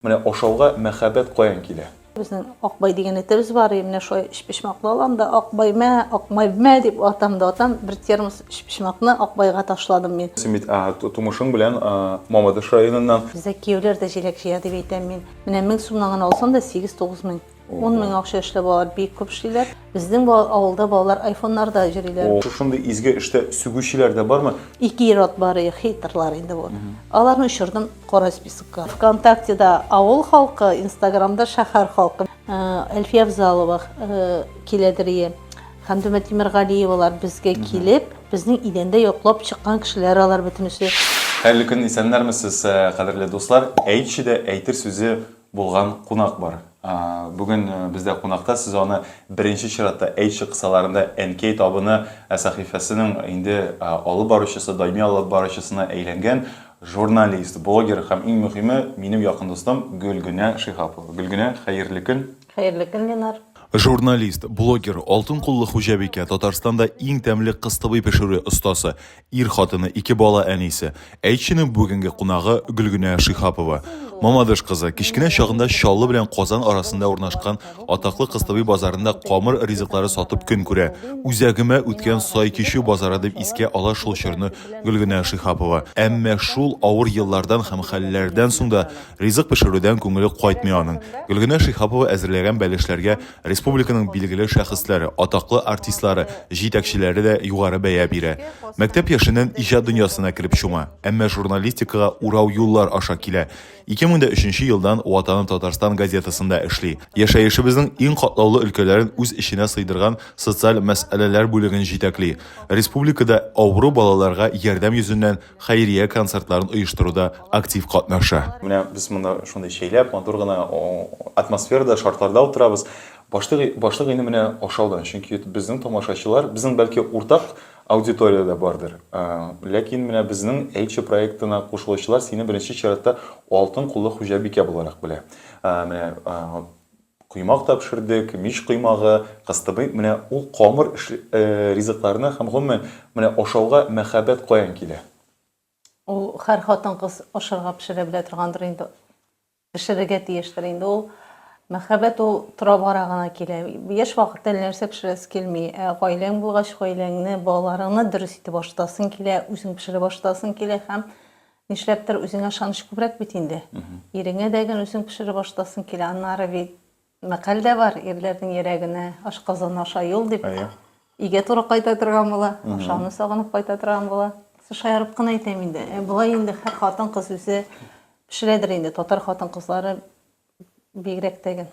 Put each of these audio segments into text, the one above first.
Менә ашауга мәхәббәт каян килә? Безнең Акбай дигән этебез бар, и менә шулай өчпочмаклы алам да, Акбай мә, Акбай мә дип атам да атам, бер термос өчпочмакны Акбайга ташладым мин. Симит, а, тумышың белән Мамадыш районыннан. Бездә кияүләр дә җиләк җыя, дип әйтәм мин. Менә мең сумнан гына алсам да, сигез-тугыз мең. 10 мең акча эшләп балалар бик күп эшлиләр. Безнең бал- авылда балалар айфоннарда йөриләр. О, Шушындый изге эштә сүгүчеләр дә бармы? Ике ир-ат бар, и, хейтерлар инде бу. Аларны очырдым кара списокка. ВКонтактеда авыл халкы, Инстаграмда шәһәр халкы. Э, Әлфия Авзалова э, киләдер ие. Хәмдүмә Тимергалиевалар безгә килеп, безнең идәндә йоклап чыккан кешеләр алар бөтенесе. Хәерле көн, исәннәрме сез, э, кадерле дуслар. Әйтче дә әйтер сүзе Булган кунак бар. Бүген бездә кунакта, сез аны беренче чиратта Әйтче кысаларында Әнкәй табыны сәхифәсенең инде алып баручысы, даими алып баручысына әйләнгән журналист, блогер һәм иң мөхиме, минем якын дустым Гөлгенә Шиһапова. Гөлгенә, хәерле көн! Хәерле көн, Ленар! Журналист, блогер, алтын куллы хуҗабикә, Татарстанда иң тәмле кыстыбый пешерү остасы, Ир хатыны, ике бала әнисе. Әйтченең бүгенге кунагы Гөлгенә Шихапова. Мамадыш кызы, кечкенә чагында Чаллы белән Казан арасында урнашкан атаклы Кыстыбый базарында камыр ризыклары сатып көн күрә. Үзәгемә үткән сай кичү базары дип искә ала шул чорны Гөлгенә Шихапова. Әмма шул авыр еллардан һәм хәлләрдән соң да ризык пешерүдән күңеле кайтмый аның. Гөлгенә Шихапова әзерләгән бәлешләргә Республиканың билгеле шәхесләре, атаклы артистлары, җитәкчеләре дә югары бәя бирә. Мәктәп яшеннән иҗат дөньясына кереп чума, әмма журналистикага урау юллар аша килә. 2003 елдан Ватаным Татарстан газетасында эшли. Яшәешебезнең иң катлаулы өлкәләрен үз эченә сыйдырган социаль мәсьәләләр бүлеген җитәкли. Республикада авыру балаларга ярдәм йөзеннән хәйрия концертларын оештыруда актив катнаша. Менә без монда шундый чәйләп, матур гына атмосферада, шартларда утырабыз. Башлык, башлык инде менә ашаудан, чөнки безнең тамашачылар, безнең бәлки уртак аудитория дә бардыр. Ләкин менә безнең Әйтче проектына кушылучылар сине беренче чиратта алтын куллы хуҗабикә буларак белә. Менә Коймак та пешердек, мич коймагы, кыстыбый, менә ул камыр ризыкларны һәм гомумән, менә ашауга мәхәббәт каян килә? Ул һәр хатын-кыз ашарга пешерә белә торгандыр инде, пешерергә тиештер инде ул. Мәхәббәт ул тора-бара гына килә. Яшь вакытта әллә нәрсә пешерәсе килми, ә гаиләң булгач, гаиләңне, балаларыңны дөрес итеп ашатасың килә, үзең пешереп ашатасың килә һәм Нишләптер үзеңә ышаныч күбрәк бит инде. Иреңә дә гел үзең пешереп ашатасың килә. Аннары бит мәкаль дә бар, ирләрнең йөрәгенә ашказаны аша юл дип. Өйгә туры кайта торган була, ашауны сагынып кайта торган була. Шаярып кына әйтәм инде. Болай инде һәр хатын-кыз үзе пешерәдер инде, татар хатын-кызлары бигрәк тә гел.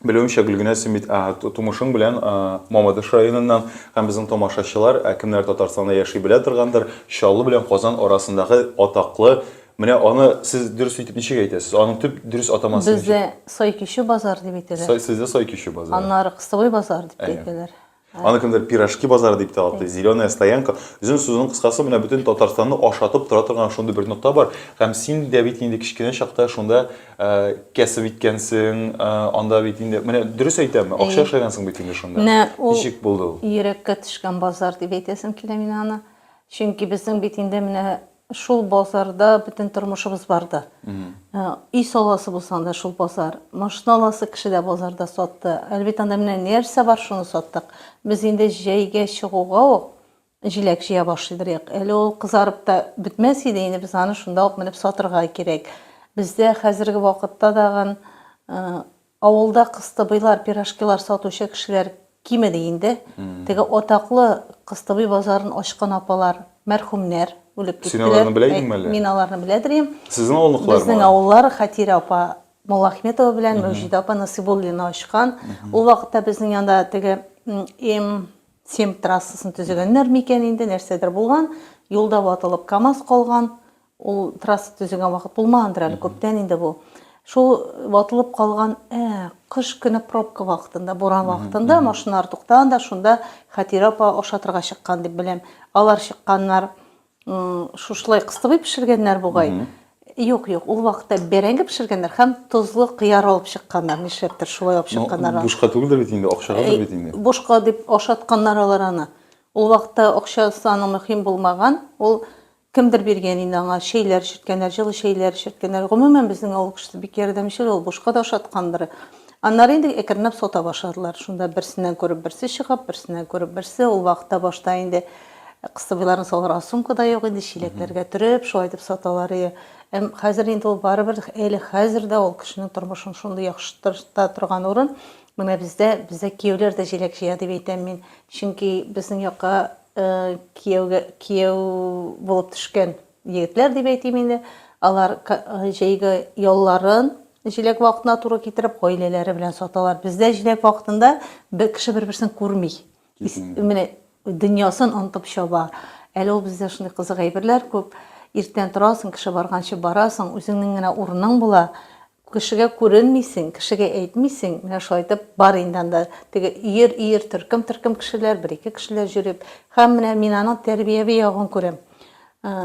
Белүемчә, Гөлгенә, син бит тумышың белән Мамадыш районыннан һәм безнең тамашачылар, кемнәр Татарстанда яши белә торгандыр, Чаллы белән Казан арасындагы атаклы, менә аны сез дөрес итеп ничек әйтәсез? Аның төп дөрес атамасы ничек? Бездә Сай-Кичү базар дип әйтәләр. Сай, сездә Сай-Кичү базар. Аннары Кыстыбай базар дип әйтәләр. Аны кемдер пирожки базары дип тә атый, зеленая стоянка. Үзен сүзенең кыскасы менә бөтен Татарстанны ашатып тора торган шундый бер нокта бар. Һәм син дә бит инде кечкенә чакта шунда э, кәсеп иткәнсең, э, анда бит инде, менә дөрес әйтәме, акча эшләгәнсең бит инде шунда. Менә ул Ничек булды ул? Йөрәккә төшкән базар дип әйтәсем килә мин аны. Чөнки безнең бит инде менә Шул базарда бөтен тормышыбыз барды. Өй саласы булса, анда шул базар. Машина аласы кеше дә базарда сатты. Әлбит, анда менә нәрсә бар, шуны саттык. Без инде җәйгә чыгуга ук җиләк җыя башлый берьяк. Әле ул кызарып та бетмәс иде, инде без аны шунда ук менеп сатырга кирәк. Бездә хәзерге вакытта тагын Авылда кыстыбыйлар, пирожкилар сатучы кешеләр кимеди инде. Теге атаклы Кыстыбый базарын ачкан апалар, мәрхүмнәр, үлеп киттеләр. Син аларны белә идеңме әле? Мин аларны беләдер идем. Сезнең авылныкылармы? Безнең авыллар Хәтирә апа Муллаәхметова белән Мәүҗидә апа Насыйбуллина ачкан. Ул вакытта безнең янда теге М7 трассасын төзегәннәрме икән инде, нәрсәдер булган, юлда ватылып КАМАЗ калган. Ул трасса төзегән вакыт булмагандыр әле, күптән инде бу. Шул ватылып калган ә, кыш көне пробка вакытында, буран вакытында машиналар туктаган да, шунда Хәтирә апа ашатырга чыккан дип беләм. Алар чыкканнар, шушылай кыстыбый пешергәннәр бугай. Юк, юк, ул вакытта бәрәңге пешергәннәр һәм тозлы кыяр алып чыкканнар, нишләптер шулай алып чыкканнар. Ну, бушка түгелдер бит инде, акчагадыр бит инде. Бушка дип ашатканнар алар аны. Ул вакытта акчасы аның мөһим булмаган, ул Кемдер биргән инде аңа чәйләр эчерткәннәр, җылы чәйләр эчерткәннәр. Гомумән, безнең авыл кешесе бик ярдәмчел, ул бушка да ашаткандыр. Аннары инде әкренләп сата башладылар. Шунда берсеннән күреп берсе чыгып, берсеннән күреп берсе. Ул вакытта башта инде кыстыбыйларны салырга сумка да юк иде, чиләкләргә төреп, шулай итеп саталар иде. Әм хәзер инде ул барыбер, әле хәзер дә ул кешенең тормышын шундый яхшырта торган урын. Менә бездә, бездә кияүләр дә җиләк җыя, дип әйтәм мин. Чөнки безнең якка Кияүгә кияү булып төшкән егетләр дип әйтим инде. Алар җәйге ялларын җиләк вакытына туры китереп, гаиләләре белән саталар. Бездә җиләк вакытында бер кеше бер-берсен күрми. Менә дөньясын онытып чаба. Әле ул бездә шундый кызык әйберләр күп. Иртән торасың, кеше барганчы барасың, үзеңнең генә урының була. Кешегә күренмисең, кешегә әйтмисең, менә шулай итеп, бар инде анда теге өер-өер, төркем-төркем кешеләр, бер-ике кешеләр җөреп. Һәм менә мин аның тәрбияви ягын күрәм.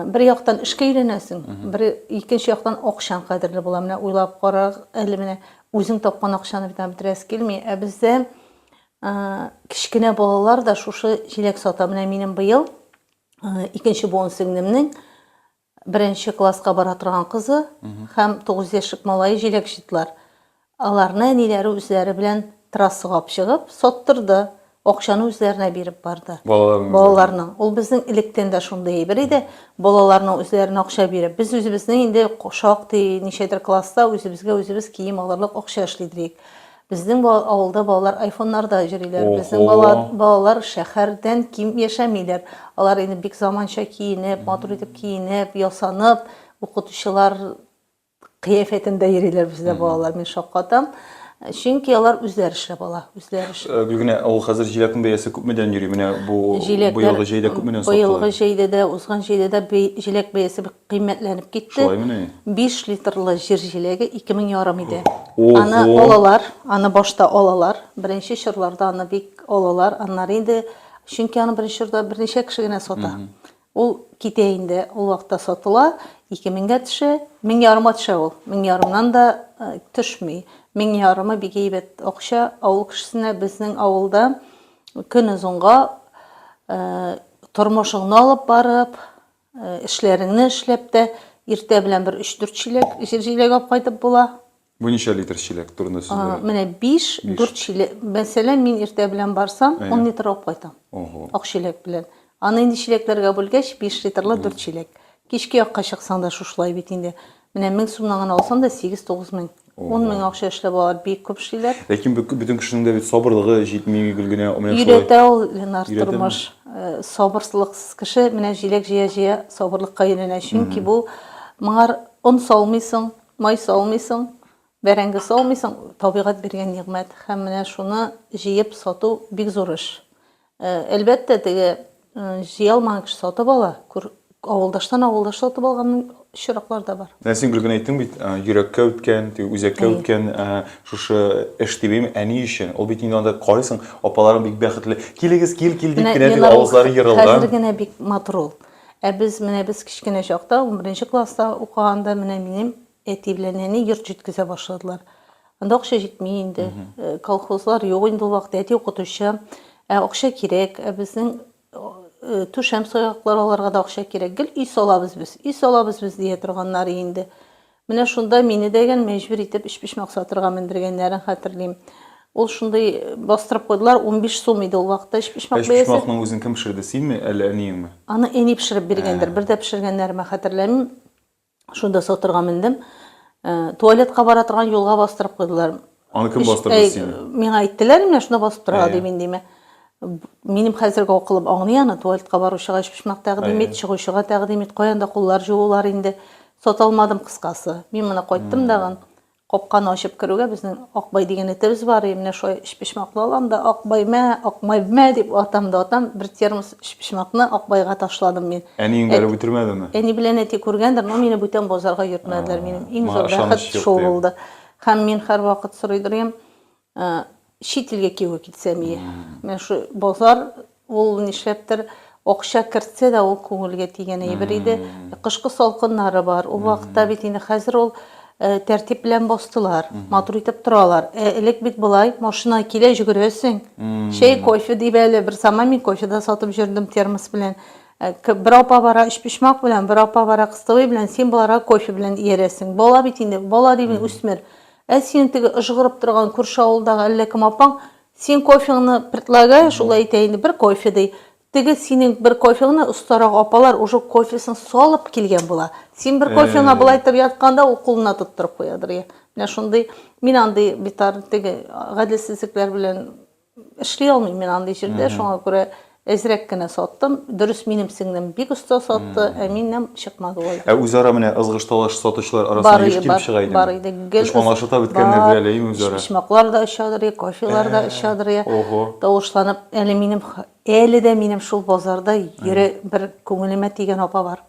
Бер яктан эшкә өйрәнәсең, бер икенче яктан акчаң кадерле була. Менә уйлап кара әле, менә үзең тапкан акчаны бит аңа бетерәсе килми. Ә бездә кечкенә балалар да шушы җиләк сата. Менә минем быел икенче буын сеңлемнең Беренче класска бара торган кызы һәм тугыз яшьлек малае җиләк җыйдылар. Аларны әниләре үзләре белән трассага алып чыгып, саттырды, акчаны үзләренә биреп барды. Балаларның үзләренә? Балаларның. Ул безнең электән дә шундый әйбер иде, балаларның үзләренә акча биреп. Без үзебезнең инде шактый ничәдер класста үзебезгә үзебез кием алырлык акча эшлидер идек. Безнең авылда балалар айфоннарда йөриләр. Безнең бала, балалар шәһәрдән ким яшәмиләр. Алар инде бик заманча киенеп, матур итеп киенеп, ясанып, укытучылар кыяфәтендә йөриләр бездә балалар, мин шаккатам. Чөнки алар үзләр эшләп ала, үзләр эшләп. Э, Гөлгенә, ә ул хәзер җиләкнең бәясе күпмедән йөри? Менә бу быелгы җәйдә күпмедән сатылды? Быелгы җәйдә дә, узган җәйдә дә җиләк бәясе бик кыйммәтләнеп китте. Шулаймыни? Биш литрлы җир җиләге ике мең ярым иде. Ого! Аны алалар, аны башта алалар, беренче чорларда аны бик алалар, аннары инде, чөнки аны беренче чорда берничә кеше генә сата. Ул китә инде, ул вакытта сатыла, ике меңгә төшә, мең ярымга төшә ул, мең ярымнан да төшми. Мең ярымы бик әйбәт акча авыл кешесенә, безнең авылда көнозынга тормышыңны алып барып, Э, эшләреңне эшләп тә иртә белән бер 3-4 чиләк җир җиләк алып кайтып була. Бу ничә литр чиләк турында сүзләр? Менә 5, 4 чиләк. Мәсәлән, мин иртә белән барсам, 10 литр алып кайтам. Ого. Ак чиләк белән. Аны инде чиләкләргә бүлгәч, 5 литрлы 4 чиләк. Кичке якка чыксаң да шушылай бит инде. Менә мең сумнан гына алсаң да, сигез-тугыз мең, ун мең акча эшләп алалар, бик күп эшлиләр. Ләкин бөтен кешенең дә бит сабырлыгы җитми гел генә. Өйрәтә ул, Ленар, тормыш. Сабырсызлыксыз кеше менә җиләк җыя-җыя сабырлыкка өйрәнә. Чөнки бу моңар он салмыйсың, май салмыйсың, бәрәңге салмыйсың, табигать биргән нигъмәт. Һәм менә шуны җыеп сату бик зур эш. Э, әлбәттә, теге э, җыя алмаган кеше сатып ала. Күр, авылдаштан авылдаш сатып алган очраклар да бар. Менә син гел генә әйттең бит, э, йөрәккә үткән, теге үзәккә Әйе. үткән э, шушы эш дибем, әни өчен. Ул бит инде анда карыйсың, апаларың бик бәхетле. Килегез, кил, кил дип Менә кенә теге Ленар ул авызлары Хәзер ерылган. генә бик матур ул. Ә без, менә без кечкенә чакта, 11 класста укыганда, менә минем Әти белән әни йорт җиткезә башладылар. Анда акча җитми инде. Э, Колхозлар юк инде ул вакытта. Әти укытучы. Ә акча кирәк. Ә безнең э, түшәм саяклар аларга да акча кирәк. Гел өй салабыз без, өй салабыз без дия торганнары инде. Менә шунда мине дәгән мәҗбүр итеп өчпочмак сатырга мендергәннәрен хәтерлим. Ул шундый э, бастырып куйдылар, 15 сум иде ул вакытта өчпочмак Эш бәясе. почмакның үзен кем пешерде, синме, әллә әниеңме? Аны әни пешереп биргәндер, бер дә пешергәннәремә хәтерләмим. Шунда сотрга мендем. Туалетка бара торган юлга бастырып куйдылар. Аны кем бастырды сине? Миңа әйттеләр, менә шунда басып тора дип индиме. Минем хәзерге акылым аңлый аны, туалетка баручыга өчпочмак тәкъдим ит, чыгучыга тәкъдим ит, каян да куллар җуылар инде. Саталмадым кыскасы. Мин моны кайттым дагын. Капканы ачып керүгә, безнең Акбай дигән этебез бар и, менә шулай өчпочмаклы алам да, Акбай, мә, Акмай, мә, дип атам да атам, бер термос өчпочмакны Акбайга ташладым мин. Әниең бәреп үтермәдеме? Әни белән әти күргәндер, но мине бүтән базарга йөртмәделәр, минем иң зур бәхет шул булды. Һәм мин һәрвакыт сорыйдыр идем, Ә, чит илгә кияүгә китсәм ие. Менә шу базар, ул нишләптер акча кертсә дә, ул күңелгә тигән әйбер иде. Кышкы салкыннары бар. Ул вакытта бит инде хәзер ул тәртип белән бастылар, матур итеп торалар. Ә элек бит болай, машина килә, җөгерәсең. Чәй, кофе дип әле, бер заман мин кофе дә сатып җөрдем термос белән. Бер апа бара өчпочмак белән, бер апа бара кыстыбый белән, син боларга кофе белән иярәсең. Бала бит инде, бала димени, үсмер. Ә синең теге ыжгырып торган күрше авылдагы әллә кем апаң синең кофеңны предлагая, шулай әйтә инде, бер кофе ди. Теге синең бер кофеңны остарак апалар уже кофесын салып килгән була. Син бер кофеңа болай итеп ятканда, ул кулына тоттырып куядыр, я. Менә шундый, мин андый битар, теге гаделсезлекләр белән Эшли алмыйм мин андый җирдә, шуңа күрә әзрәк кенә саттым. Дөрес, минем сеңлем бик оста сатты, ә минем чыкмады ул. Ә үзара менә ызгыш-талаш сатучылар арасында еш килеп чыга идеме? Бар иде. Гел аңлашып та беткәннәрдер әле, әйеме үзара? Почмаклар да очадыр, кофелар да очадыр. Ого. Тавышланып, әле минем, әле дә минем шул базарда йөри, бер күңелемә тигән апа бар.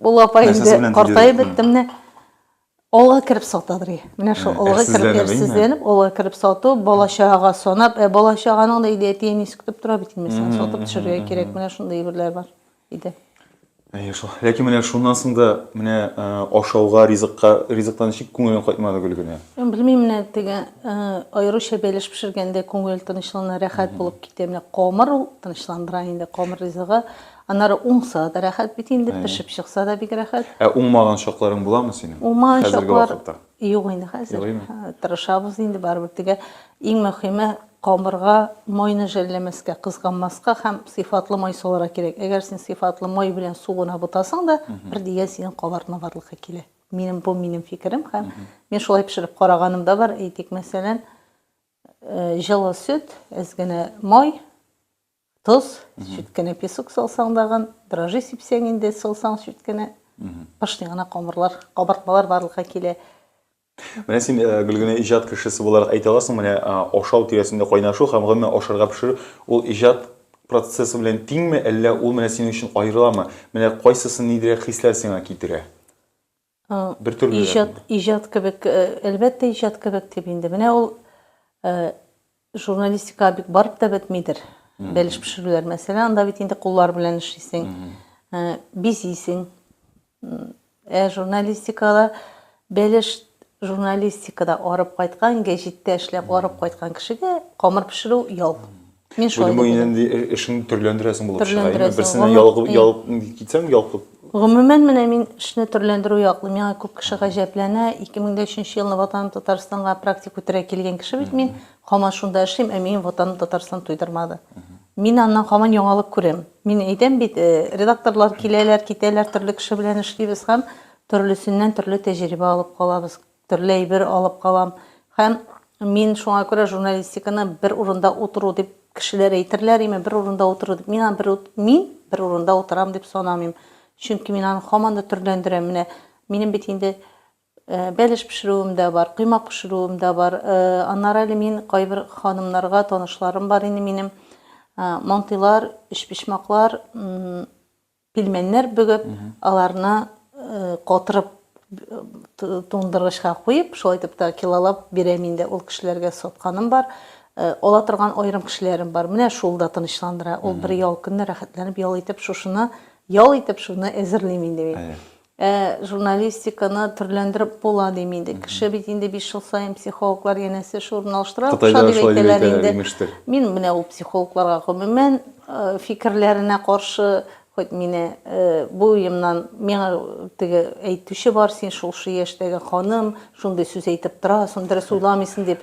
Ул апа инде картаеп бетте менә. Олыга кереп сатадыр. Менә шул олыга кереп әрсезләнеп, олыга кереп сату, балачага санап, ә балачаганың да иде әти әнисе көтеп тора бит инде, син сатып төшергә кирәк. Менә шундый әйберләр бар иде. Әйе шул. Ләкин менә шуннан соң да менә ашауга, ризыкка, ризыктан ничек күңелең кайтмады Гөлгенә? Белмим, менә теге аеруча бәлеш пешергәндә күңел тынычлана, рәхәт булып китә. Менә камыр ул тынычландыра инде, камыр ризыгы. Аннары уңса да рәхәт бит инде, Әйе. пешеп чыкса да бик рәхәт. Ә уңмаган чакларың буламы синең? Уңмаган Хәзерге чаклар вакытта. юк инде хәзер. Юк, әйеме? Һә, Тырышабыз инде барыбер тегә. Иң мөһиме камырга майны жәлләмәскә, кызганмаска һәм сыйфатлы май салырга кирәк. Әгәр син сыйфатлы май белән су гына бутасаң да, бер дигән синең кабартма барлыкка килә. Минем бу минем фикерем һәм мин шулай пешереп караганым да бар. Әйтик, мәсәлән, э, җылы сөт, әз генә май, Тоз, чүт кенә песок салсаң дагын, дрожжи сипсәң инде, салсаң чүт кенә, пышни гына камырлар, кабартмалар барлыкка килә. Менә син, э, Гөлгенә, иҗат кешесе буларак әйтә аласың, менә ашау тирәсендә кайнашу һәм гомумән ашарга пешерү, ул иҗат процессы белән тиңме, әллә ул менә синең өчен аерыламы? Менә кайсысы ниндирәк хисләр сиңа китерә? Бер төрле рәсем. Иҗат, иҗат кебек, әлбәттә, иҗат кебек дип инде. Менә ул журналистика бик барып та бетмидер. Бәлеш пешерүләр, мәсәлән, анда бит инде куллар белән эшлисең, бизисең. Ә журналистикада бәлеш журналистикада арып кайткан, гәҗиттә эшләп арып кайткан кешегә камыр пешерү ял. Мин шулай Бүген дип бүген уйлыйм. инде э- эшеңне төрләндерәсең булып чыга. Әйме, Төрләндерәсең, берсенә гомер- ялыгып, и. ялып китсәң, ялкып. Гомумән, менә мин эшне төрләндерү яклы. Миңа күп кеше гаҗәпләнә. 2003 елны Ватаным Татарстанга практик үтәргә килгән кеше бит мин. Һаман шунда эшлим, ә минем Ватаным Татарстан туйдырмады. Мин аннан һаман яңалык күрәм. Мин әйтәм бит, э, редакторлар киләләр, китәләр, төрле кеше белән эшлибез һәм төрлесеннән төрле тәҗрибә алып калабыз. Төрле әйбер алып калам һәм мин шуңа күрә журналистиканы бер урында утыру дип кешеләр әйтерләр име, бер урында утыру дип. Мин аны бер мин бер урында утырам дип санамыйм. Чөнки мин аны һаман да төрләндерәм. Менә минем бит инде бәлеш пешерүем дә бар, коймак пешерүем дә бар. Аннары әле мин кайбер ханымнарга танышларым бар инде минем. Мантыйлар, өчпочмаклар, Пилмәннәр бөгеп, аларны катырып туңдыргычка куеп, шулай итеп тә килолап бирәм инде. Ул кешеләргә сатканым бар. Ала торган аерым кешеләрем бар. Менә шул да тынычландыра. Ул бер ял көнне рәхәтләнеп ял итеп, шушыны ял итеп, шуны әзерлим инде мин. Ә журналистиканы төрләндереп була дим инде. Кеше бит инде биш ел саен психологлар янәсе шурын алыштыра, акча дип әйтәләр инде. Мин менә ул психологларга гомумән фикерләренә каршы, хоть мине бу уемнан миңа теге әйтүче бар, син шулшы яшьтәге ханым, шундый сүз әйтеп торасың, дөрес уйламыйсың дип.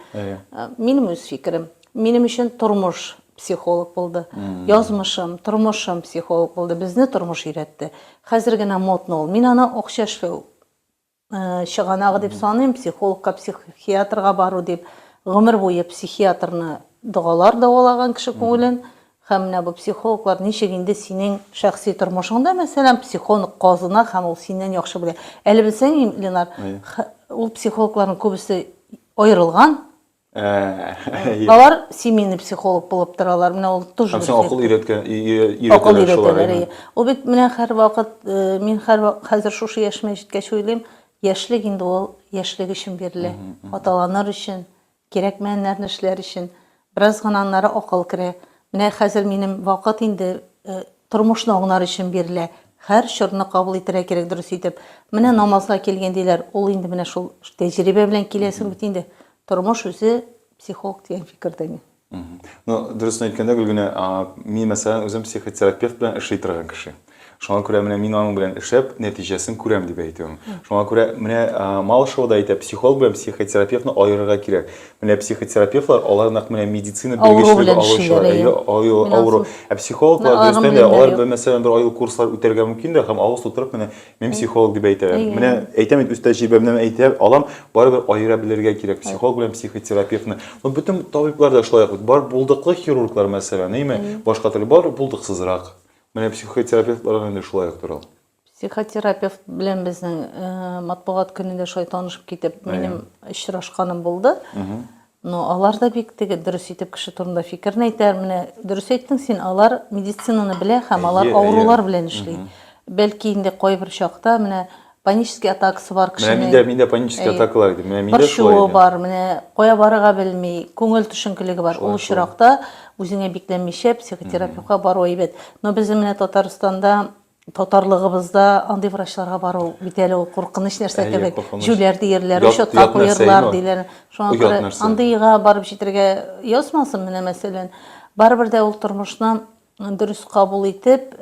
Минем үз фикерем. Минем өчен тормыш психолог булды. Язмышым, тормышым психолог булды. Безне тормыш өйрәтте. Хәзер генә модно ул. Мин аны акча эшләү чыганагы дип саныйм, психологка, психиатрга бару дип. Гомер буе психиатрны догалар дәвалаган кеше күңелен. Һәм менә бу психологлар ничек инде синең шәхси тормышыңда, мәсәлән, психолог казына һәм ул синнән яхшы белә. Әле белсәң, Ленар, ул психологларның күбесе аерылган, Алар семейный психолог булып торалар. Менә ул тоже. Һәм син акыл өйрәткән, өйрәтәләр. Акыл өйрәтәләр. Ул бит менә һәрвакыт, мин һәрвакыт хәзер шушы яшемә җиткәч уйлыйм, яшьлек инде ул яшьлек өчен бирелә. Аталаныр өчен, кирәкмәгәннәрне эшләр өчен. Бераз гына аннары акыл керә. Менә хәзер минем вакыт инде Тормышны аңнар өчен бирелә. Хәр чорны кабул итәргә кирәк дөрес итеп. Менә намазга килгән диләр, ул инде менә шул тәҗрибә белән киләсең бит инде. Тормыш үзе психолог дигән фикердә мин. Ну, дөресен әйткәндә, Гөлгенә, мин мәсәлән үзем психотерапевт белән эшли торган кеше. Шуңа күрә менә мин аның белән эшләп, нәтиҗәсен күрәм дип әйтүем. Шуңа күрә менә Малышева да әйтә, психолог белән психотерапевтны аерырга кирәк. Менә психотерапевтлар алар нәкъ менә медицина белгечлеге алучылар, әйе, авыру. Ә психологлар дөрестән дә алар бер мәсәлән бер айлык курслар үтәргә мөмкин дә һәм авыз тутырып менә мин психолог дип әйтә. Менә әйтәм бит үз тәҗрибәмнән әйтә алам, барыбер аера белергә кирәк психолог белән психотерапевтны. Ну бөтен табиблар да шулай ук бит. Бар булдыклы хирурглар мәсәлән, әйеме? Башка төрле бар булдыксызрак. Менә психотерапевтларга инде шулай ук тора. Психотерапевт белән безнең э, матбугат көнендә шулай танышып китеп, минем очрашканым булды. Но алар да бик теге дөрес итеп кеше турында фикерен әйтә. Менә дөрес әйттең син, алар медицинаны белә һәм алар Әйе, авырулар әйе. белән эшли. Бәлки инде кайбер чакта менә панический атакасы бар Менә кешенең. миндә миндә панический Әйе. атакалар иде. Менә миндә шулай Борчуы иде. бар, менә кая барырга белми, күңел төшенкелеге бар. Ул очракта үзеңә бикләнмичә психотерапевтка бару әйбәт. Но безнең менә Татарстанда Татарлыгыбызда андый врачларга бару бит әле ул куркыныч нәрсә кебек. Җүләр диерләр, учетка куерлар диләр. Шуңа күрә андыйга барып җитәргә язмасын, менә мәсәлән. Барыбер дә ул тормышны дөрес кабул итеп,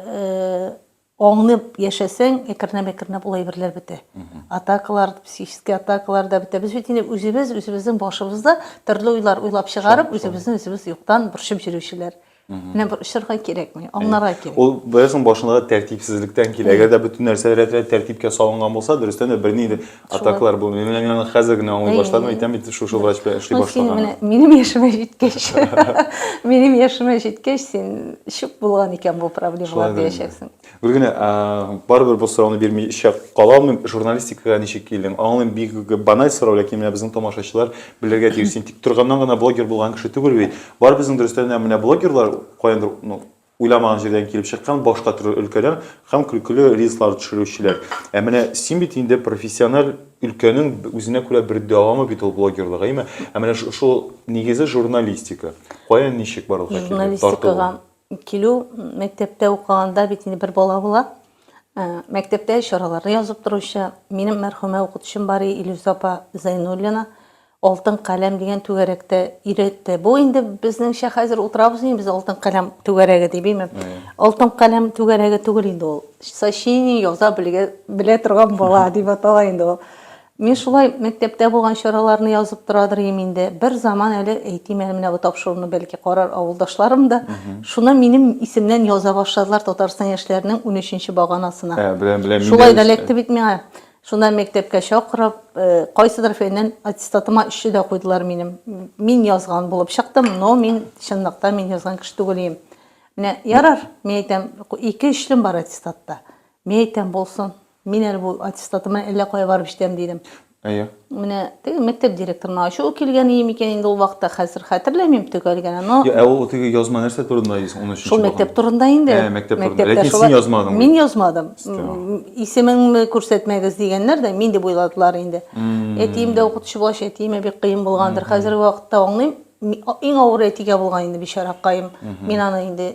аңлап яшәсәң, әкренләп-әкренләп ул әйберләр бетә. Атакалар, психический атакалар да бетә. Без бит инде үзебез үзебезнең башыбызда төрле уйлар уйлап чыгарып, үзебезне үзебез юктан борчып йөрүчеләр. Менә бер очырга кирәкми, аңларга кирәк. Ул бәясен башындагы тәртипсезлектән килә. Әгәр дә бөтен нәрсә рәт-рәт тәртипкә салынган булса, дөрестән дә берни инде атаклар бу. Мин менә хәзер генә аңлый баштадым, әйтәм бит, шушы врач белән эшли башлаган. Минем яшемә җиткәч, минем яшемә җиткәч, син чүп булган икән бу проблемалар диячәксең. Гел генә барыбер бу сорауны бирмичә кала алмыйм. Журналистикага ничек килдең? Аңлыйм, бик баналь сорау, ләкин менә безнең тамашачылар белергә тиеш. Син тик торганнан гына блогер булган кеше түгел бит. Бар безнең дөрестән дә менә блогерлар каяндыр ну, уйламаган җирдән килеп чыккан башка төрле өлкәдән һәм көлкеле рилслар төшерүчеләр. Ә менә син бит инде профессиональ өлкәнең үзенә күрә бер дәвамы бит ул блогерлык, әйме? Ә менә шул нигезе журналистика. Каян ничек барлыкка килде? Журналистикага Килү мәктәптә укыганда бит инде бер бала була. Ә, мәктәптә чараларны язып торучы минем мәрхүмә укытучым бар и Илюза апа Зайнуллина алтын каләм дигән түгәрәктә өйрәтте. Бу инде безнеңчә хәзер утырабыз инде без алтын каләм түгәрәге дип, име? Алтын каләм түгәрәге түгел инде ул. Сочиние яза белгә, белә торган бала дип атала инде ул. Мин шулай мәктәптә булган чараларны язып торадыр идем инде. Бер заман әле әйтим әле менә бу тапшыруны бәлки карар авылдашларым да. Шуны минем исемнән яза башладылар Татарстан яшьләренең унөченче баганасына. Ә, беләм, беләм. Шулай да эләкте бит миңа. Шуннан мәктәпкә чакырып, кайсыдыр фәннән аттестатыма өчне дә куйдылар минем. Мин язган булып чыктым, но мин чынлыкта мин язган кеше түгел идем. Менә ярар, мин әйтәм, ике өчлем бар аттестатта. Мин әйтәм, булсын. Мин әле бу аттестатыма әллә кая барып җитәм, дидем. Әйе. Менә теге мәктәп директорына ачуы килгәне микән инде ул вакытта, хәзер хәтерләмим төгәл генә, но... Йә, ә ул теге язма нәрсә турында, 13 нче Шул мәктәп турында инде. Ә, мәктәп турында. Ләкин син язмадың. Мин язмадым. Исемеңне күрсәтмәгез дигәннәр дә, мин дип уйладылар инде. Әтием дә укытучы булгач, әтиемә бик кыен булгандыр. Хәзерге вакытта аңлыйм, иң авыры әтигә булган инде, бичаракаем. Мин аны инде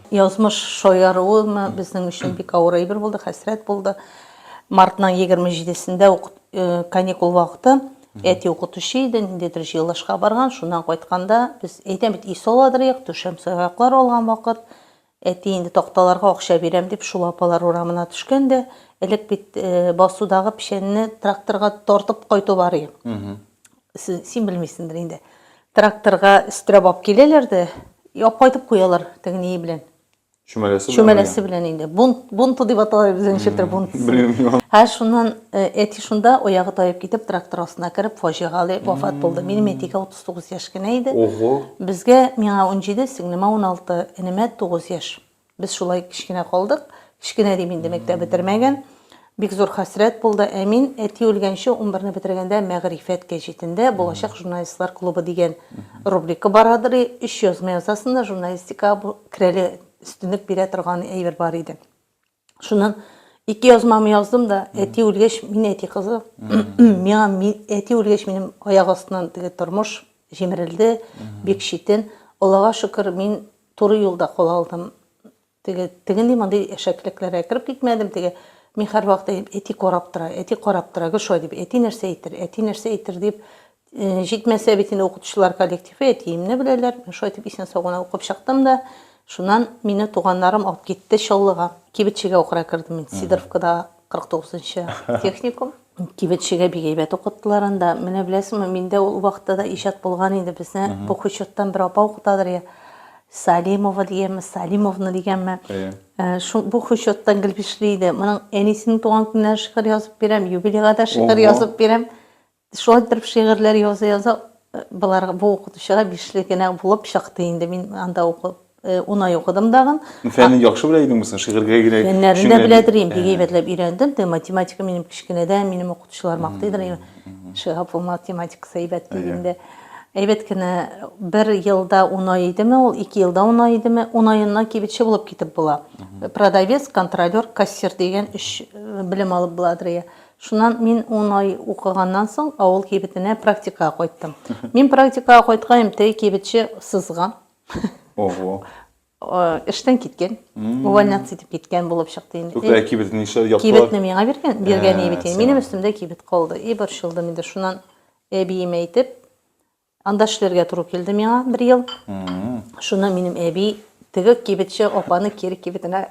Язмыш шаяруымы безнең өчен бик авыр әйбер булды, хәсрәт булды. Мартның 27-сендә ук каникул вакыты әти укытучы иде, ниндидер җыелышка барган, шуннан кайтканда без әйтәм бит, өй саладырыйк, түшәм сыяклар алган вакыт. Әти инде такталарга акча бирәм дип, шул апалар урамына төшкән дә, элек бит басудагы печәнне тракторга тартып кайту бар иде. Син белмисеңдер инде. Тракторга өстерәп алып киләләр дә, яп кайтып куялар теге ние белән. Чүмәләсе белән. Чүмәләсе белән инде. Бунт, бунты дип атала безнең читер бунт. Белмим. Һә шуннан әти шунда аягы таеп китеп трактор астына кереп фаҗигале вафат булды. Минем әтигә 39 яшь кенә иде. Ого. Безгә, миңа 17, сеңлемә 16, энемә 9 яшь. Без шулай кечкенә калдык. Кечкенә дим инде, мәктәп бетермәгән. Бик зур хәсрәт булды. Ә мин, әти үлгәнче, унбер не бетергәндә, Мәгърифәт гәҗитендә Булачак журналистлар клубы дигән рубрика барадыр и өч язма язасың да журналистикага бу керәле өстенлек бирә торган әйбер бар иде. Шуннан ике язмамны яздым да, әти үлгәч, мин әти кызы. Миңа ми- әти үлгәч, минем аяк астыннан теге тормыш җимерелде, бик читен. Аллага шөкер, мин Туры юлда кала алдым. Теге, теге ни мондый әшәклекләргә кереп китмәдем. Теге мин һәрвакыт әйдем, әти карап тора, әти карап тора, гел шулай дип, әти нәрсә әйтер, әти нәрсә әйтер дип, э, җитмәсә бит инде укытучылар коллективы әтиемне беләләр. Мин шулай дип исән-сау гына укып чыктым да, шуннан мине туганнарым алып китте Чаллыга. Кибетчегә укырга кердем мин, Сидоровкада 49 нчы техникум. Кибетчегә бик әйбәт укыттылар анда. Менә беләсеңме, миндә ул вакытта да иҗат булган иде. Безне бу хучеттан бер апа укытадыр я Салимова дигәнме, Салимовна дигәнме. Шул бу хучеттан гел бишле иде. Моның әнисенең туган көненә шигырь язып бирәм, юбилейга да шигырь язып бирәм. Шулай торып шигырьләр яза-яза болар бу укытучыга бишле генә булып чыкты инде. Мин анда укып унай укыдым дагын. Фәнне яхшы белә идеңме соң? Шигырьгә генә. Фәннәрне дә беләдер инде, бик әйбәтләп өйрәндем. Дә математика минем кечкенәдән минем укытучылар мактыйдыр. Шиһап ул математикасы әйбәт дигәндә. Әйбәт кенә бер елда унай идеме ул, ике елда унай идеме, унаеннан кибетче булып китеп була. Продавец, контролер, кассир дигән өч белем алып буладыр. Шуннан мин ун ай укыганнан соң авыл кибетенә практикага кайттым. Мин практикага кайткаем, теге кибетче сызган. Ого. Эштән киткән. Увольняться итеп киткән булып чыкты инде. Юкта э, кибетне нишләп яптылар? Кибетне миңа биргән, биргән ә, бит. Минем өстемдә кибет калды. И борчылдым инде. Шуннан әбиемә әйтеп, Анда эшләргә туры килде миңа бер ел. Шуны минем әби теге кибетче апаны кире кибетенә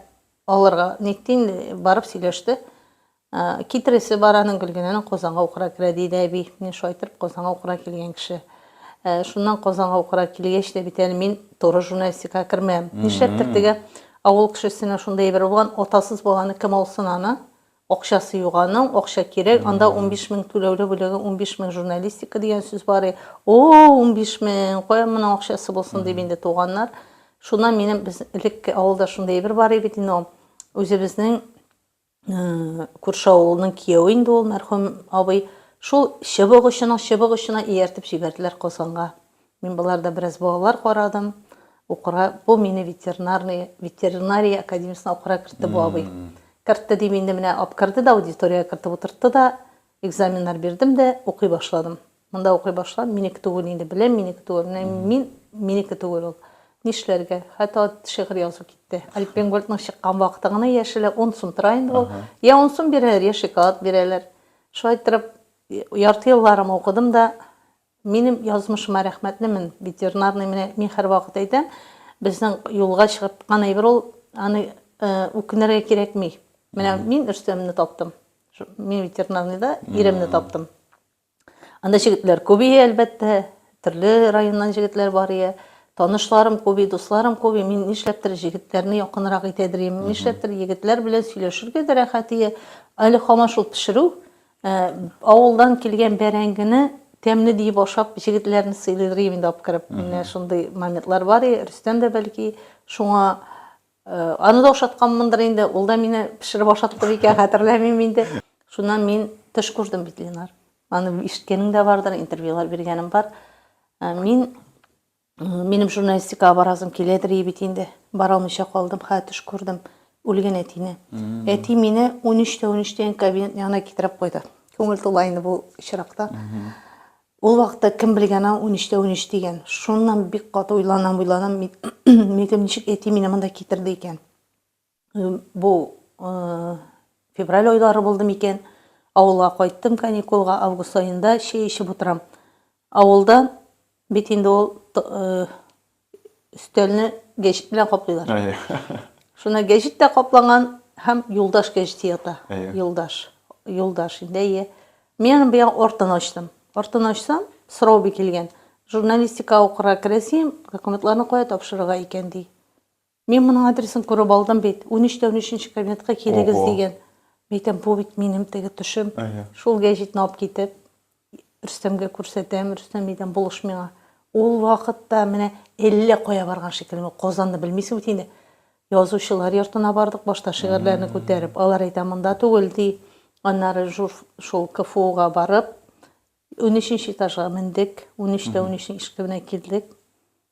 алырга нитте инде, барып сөйләште. Китересе бар аның Гөлгенәнең Казанга укырга керә диде әби. Мин шулай итеп Казанга укырга килгән кеше. Э, шуннан Казанга укырга килгәч тә бит әле мин туры журналистикага кермәм. Нишләптер теге авыл кешесенә шундый әйбер булган, атасыз баланы кем алсын аны? Акчасы юк аның, акча кирәк, анда унбиш мең түләүле бүләге, унбиш мең журналистика дигән сүз бар и, о-о-о, унбиш мең, каян моның акчасы булсын, дип инде туганнар. Шуннан минем, без элек авылда шундый әйбер бар и бит инде ул, үзебезнең күрше авылның кияве инде ул, мәрхүм абый, шул чыбык очының чыбык очына ияртеп җибәрделәр Казанга. Мин боларда бераз балалар карадым. Укырга, бу мине ветеринарный, ветеринария академиясына укырга кертте бу абый. Кертте дим инде менә апкырды да аудиториягә кертеп утыртты да, экзаменнар бирдем дә укый башладым. Монда укый башладым, минеке түгел инде, беләм минеке түгел. Менә мин минеке түгел ул. Нишләргә? Хәтта шигырь язу китте. Альпенгольдның чыккан вакыты гына яшелә 10 сум тора инде ул. Я 10 сум бирәләр, я шоколад бирәләр. Шулай иттереп ярты елларым укыдым да, Минем язмышыма рәхмәтлемен, ветеринарный менә мин һәрвакыт әйтәм, безнең юлга чыгып кан әйбер ул, аны үкенергә кирәкми. Менә мин Рөстәмне таптым. Мин ветеринарныйда иремне таптым. Анда җегетләр күп ие, әлбәттә, төрле районнан җегетләр бар ие. Танышларым күп ие, дусларым күп ие. Мин нишләптер җегетләрне якынрак итәдер ием. Нишләптер егетләр белән сөйләшергә дә рәхәт ие. Әле һаман шул пешерү, Ә, авылдан килгән бәрәңгене тәмле диеп ашап, җегетләрне сыйлыйдыр идем инде апкырып. Менә шундый моментлар бар и, Рөстәм дә бәлки шуңа э, аны да ашатканмындыр инде, ул да мине пешереп ашатты микән, хәтерләмим инде. Шуннан мин төш күрдем бит, Ленар. Аны ишеткәнең дә бардыр, интервьюлар биргәнем бар. Ә, Мин Минем журналистикага барасым киләдер и бит инде. Бара алмыйча калдым, хә төш күрдем. Үлгән әтине. Әти мине 13 тә 13 тә кабинет янына китереп куйды. Күңел тула инде бу очракта. Ул вакытта кем белгән аны 13 тә 13 дигән. Шуннан бик каты уйланам, уйланам. Мин ничек әти мине монда китерде икән? Бу февраль айлары булды микән? Авылга кайттым каникулга, август аенда чәй эчеп утырам. Авылда бит инде ул өстәлне гәҗит белән каплыйлар. Шуны гәҗит тә каплаган һәм юлдаш гәҗите ята. Юлдаш. Юлдаш инде, әйе. Мин аның бия артын ачтым. Артын ачсам, сорау бик килгән. Журналистика укырга керәсем, документларны кая тапшырырга икән ди. Мин моның адресын күреп алдым бит. Унөч тә унөченче кабинетка килегез Ого. дигән. Мәйтәм, бу бит минем теге төшем. Әйе. Шул гәҗитне алып китеп, Рөстәмгә күрсәтәм. Рөстәм әйтәм, булыш миңа. Ул вакытта менә әллә кая барган шикелле. Казанны белмисең бит инде. Язучылар йортына бардык, башта шигырьләрне күтәреп. Алар әйтә, монда түгел, ди. Аннары жур, шул КФУга барып, унөченче этажга мендек. Унөч тә унөчнең ишегенә килдек.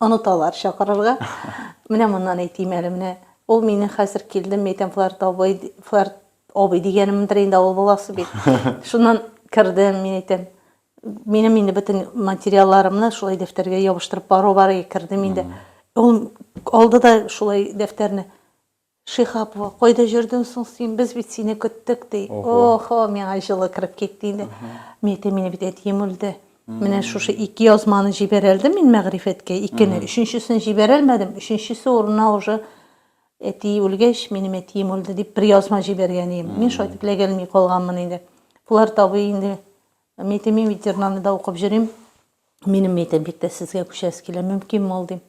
Оныталар чакырырга. Менә моннан әйтим әле, менә ул мине хәзер килдем, әйтәм, Фларт абый, Фларт абый дигәнемдер инде, авыл баласы бит. Шуннан кердем, мин әйтәм, минем инде бөтен материалларымны шулай дәфтәргә ябыштырып бару бар, кердем инде. Ул алды да шулай дәфтәрне. Шиһап, кайда җөрдең соң син, без бит сине көттек, ди. Охо, миңа җылы кереп китте инде. Мин әйтәм, мине бит әтием үлде. Менә шушы ике язманы җибәрә әлдем мин мәгърифәткә, икене. Өченчесен җибәрә әлмәдем, өченчесе урынына уже әти үлгәч, минем әтием үлде дип бер язма җибәргән идем. Мин шулай итеп ләгәлми калганмын инде. Болар табый инде. Мин әйтәм, мин бит җырнаны да укып җөрим. Минем, мин әйтәм, бик тә сезгә күчәсе килә, мөмкинме ул, дим.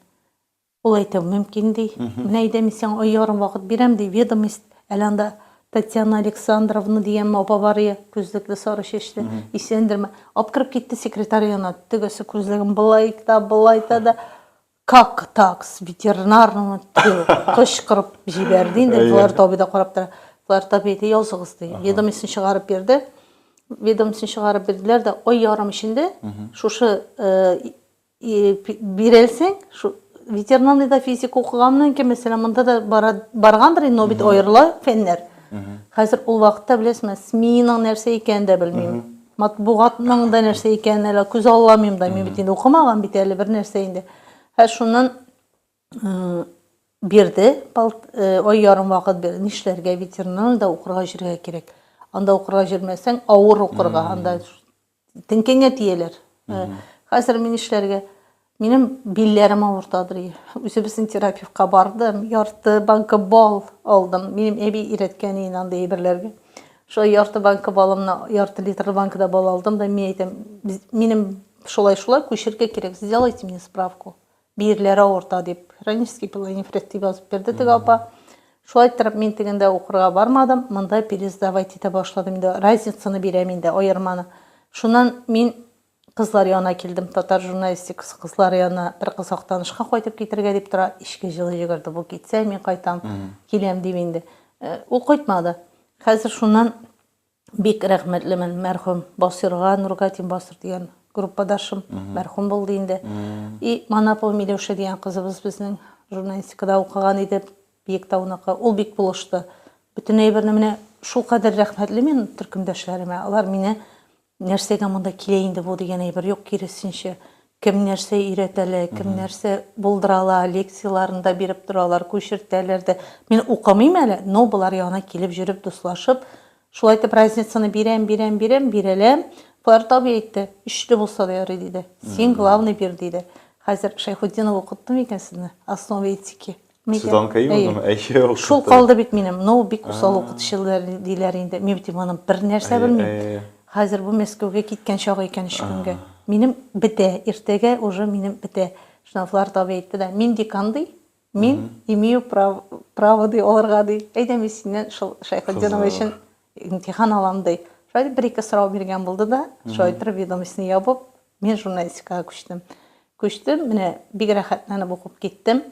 Ул әйтә, мөмкин, ди. Менә әйдә, мин сиңа ай ярым вакыт бирәм, ди, ведомость, әле анда Татьяна Александровна дигән апа бар иде, күзлекле, сары чәчле, исәндерме, апкырып китте секретарь янына, тегесе күзлеген былай да, былай да да, Как так, с ветеринарного отдела? кычкырып җибәрде инде, Флорд абый да карап тора. Флорд абый әйтә, языгыз, ди, ведомостьны чыгарып бирде. Ведомостьны чыгарып бирделәр дә, ай ярым эчендә шушы Бирәлсең, шу ветеринарный да физик укыганмын икән, мәсәлән, монда да баргандыр, но бит аерыла фәннәр. Хәзер ул вакытта беләсме, СМИның нәрсә икәнен дә белмим. Матбугатның да нәрсә икәнен әле күз алламыйм да, мин бит инде укымаган бит әле бер нәрсә инде. Һә шуннан бирде, ай ярым вакыт бирде, нишләргә ветеринарный да укырга йөрергә кирәк. Анда укырга йөрмәсәң, авыр укырга, анда Теңкәңә тияләр. Э, хәзер мин эшләргә минем билләрем авырта ди. Үзебезнең терапевтка бардым, ярты банка бал алдым. Минем әби өйрәткән иде андый әйберләргә. Шулай ярты банка балымны, ярты литр банкада бал алдым да мин әйтәм, минем шулай-шулай күчергә кирәк, сделайте мне справку. Биерләре авырта дип, хронический пилонефрит дип язып бирде теге апа. Шулай иттереп мин тегендә укырга бармадым, монда пересдавать итә башладым инде. Разницаны бирәм инде, аерманы. Шуннан мин кызлар янына килдем, татар журналистикасы кызлары янына бер кыз Актанышка кайтып китергә дип тора. Эчке җылы йөгерде, бу китсә, мин кайтам, киләм дип инде. Э, ул кайтмады. Хәзер шуннан Бик рәхмәтлемен мәрхүм Басирга, Нургатин Басир дигән группадашым, мәрхүм булды инде. И Манапова Миләүшә дигән кызыбыз безнең журналистикада укыган иде, Биектауныкы. Ул бик булышты. Бөтен әйберне менә шул кадәр рәхмәтле мин төркемдәшләремә. Алар мине нәрсәгә монда килә инде бу дигән әйбер юк, киресенчә, Кем нәрсә өйрәтә лә, кем нәрсә булдыра ла, лекцияләрен дә биреп торалар, күчертәләр дә. Мин укымыйм әле, но болар янына килеп йөреп, дуслашып, шулай итеп разницаны бирәм, бирәм, бирәм, бирәләм. Фарит абый әйтте, өчле булса да ярый, диде. Син главный бир, диде. Хәзер Шәйхутдинов укытты микән сезне? Основы этики. Нигә? Судан кәю Әйе. булдымы? Әйе, ул Шул китте. калды бит минем. Но бик усал А. укытучы диләр- диләр инде. Мин бит иманым бернәрсә Әйе, белмим. әйе, әйе. Хәзер бу Мәскәүгә киткән чагы икән өч көнгә. Ага. Минем бетә, иртәгә уже минем бетә. Штрафлар табиб әйтте дә, мин декан, ди, мин имею прав- право, ди, алырга, ди. Әйдә, мин синнән шул Шәйхетдинова Кызык. өчен Имтихан алам ди. Шулай итеп бер-ике сорау биргән булды да, шулай итеп ведомостьны ябып, мин журналистикага күчтем. Күчтем, менә бик рәхәтләнеп укып киттем.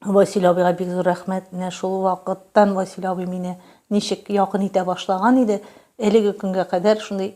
Васил абыйга бик зур рәхмәт, менә шул вакыттан Васил абый мине ничек якын итә башлаган иде, әлеге көнгә кадәр шундый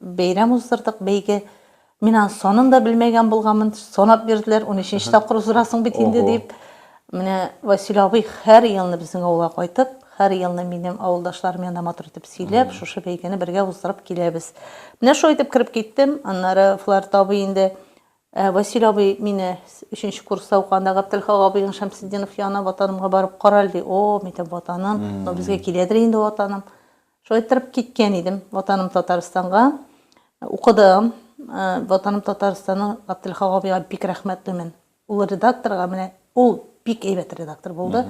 Бәйрәм уздырдык, бәйге. Мин аның санын да белмәгән булганмын. Санап бирделәр, унөченче тапкыр уздырасың бит инде Ого. дип. Менә Васил абый һәр елны безнең авылга кайтып, һәр елны минем авылдашларым янында матур итеп сөйләп, шушы бәйгене бергә уздырып киләбез. Менә шулай итеп кереп киттем. Аннары Фларт абый инде, ә, Васил абый мине с- өченче курста укыганда Гаптелхак абыең Шәмсетдинов янына Ватанымга барып карале, ди. О, мин әйтәм, Ватаным, ну безгә киләдер инде Ватаным. Шулай торып киткән идем Ватаным Татарстанга. Укыдым. Ватаным Татарстанның Габделхак абыйга бик рәхмәтлемен. Ул редакторга менә ул бик әйбәт редактор булды.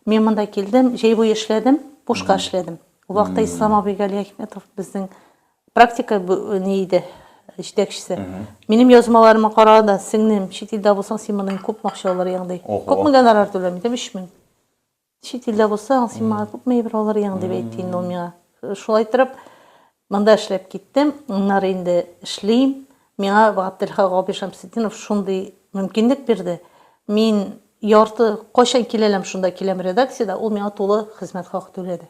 Мин монда килдем, җәй буе эшләдем, бушка эшләдем. Ул вакытта Ислам абый Галиәхмәтов безнең практика ни иде, җитәкчесе. Минем язмаларымны кара да, сеңлем, чит илдә булсаң, син моннан күпме акча алыр идең, ди. Күпме гонорар түләм идем? 3000. Чит илдә булсаң, син миңа күпме евро алыр идең, дип әйтте инде ул миңа. Шулай торып, монда эшләп киттем, аннары инде эшлим. Миңа Габделхак абый Шәмсетдинов шундый мөмкинлек бирде. Мин ярты, кайчан киләләм, шунда киләм редакциядә, ул миңа тулы хезмәт хакы түләде.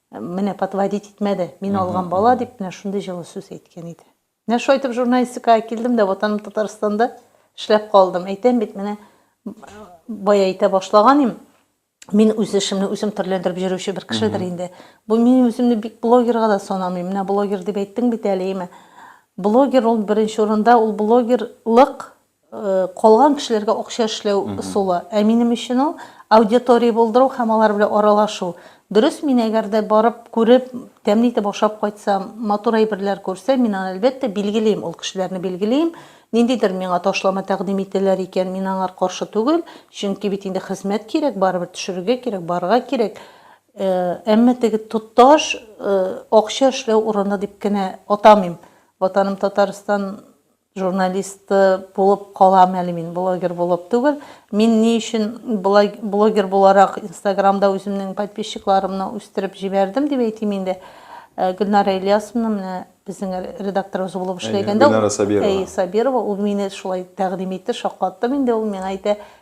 Менә подводить итмәде. Мин алган бала дип менә шундый җылы сүз әйткән иде. Менә шулай итеп журналистикага килдем дә Ватаным Татарстанда эшләп калдым. Әйтәм бит, менә бая әйтә башлаган им, мин үз эшемне үзем төрләндереп йөрүче бер кешедер инде. Бу мин үземне бик блогерга да санамыйм. Менә блогер дип әйттең бит әле, имә. Блогер ул беренче урында, ул блогерлык Калган кешеләргә акча эшләү ысулы. Ә минем өчен ул, аудитория булдыру һәм алар белән аралашу. Дөрес, мин әгәр дә барып, күреп, тәмле итеп ашап кайтсам, матур әйберләр күрсәм, мин аны, әлбәттә, билгелим, ул кешеләрне билгелим. Ниндидер миңа ташлама тәкъдим ителәр икән, мин аңар каршы түгел, чөнки бит инде хезмәт кирәк, барыбер төшерергә кирәк, барырга кирәк. Әмма теге тоташ акча эшләү урыны дип кенә атамыйм. Ватаным Татарстан Журналист булып калам әле мин, блогер булып түгел. Мин ни өчен блогер буларак Инстаграмда үземнең подписчикларымны үстереп җибәрдем дип әйтим инде. Гөлнара Ильясовна менә безнең редакторыбыз булып эшләгәндә, Гөлнара Сабирова, ул мине шулай тәкъдим итте, шаккаттым инде, ул миңа әйтә,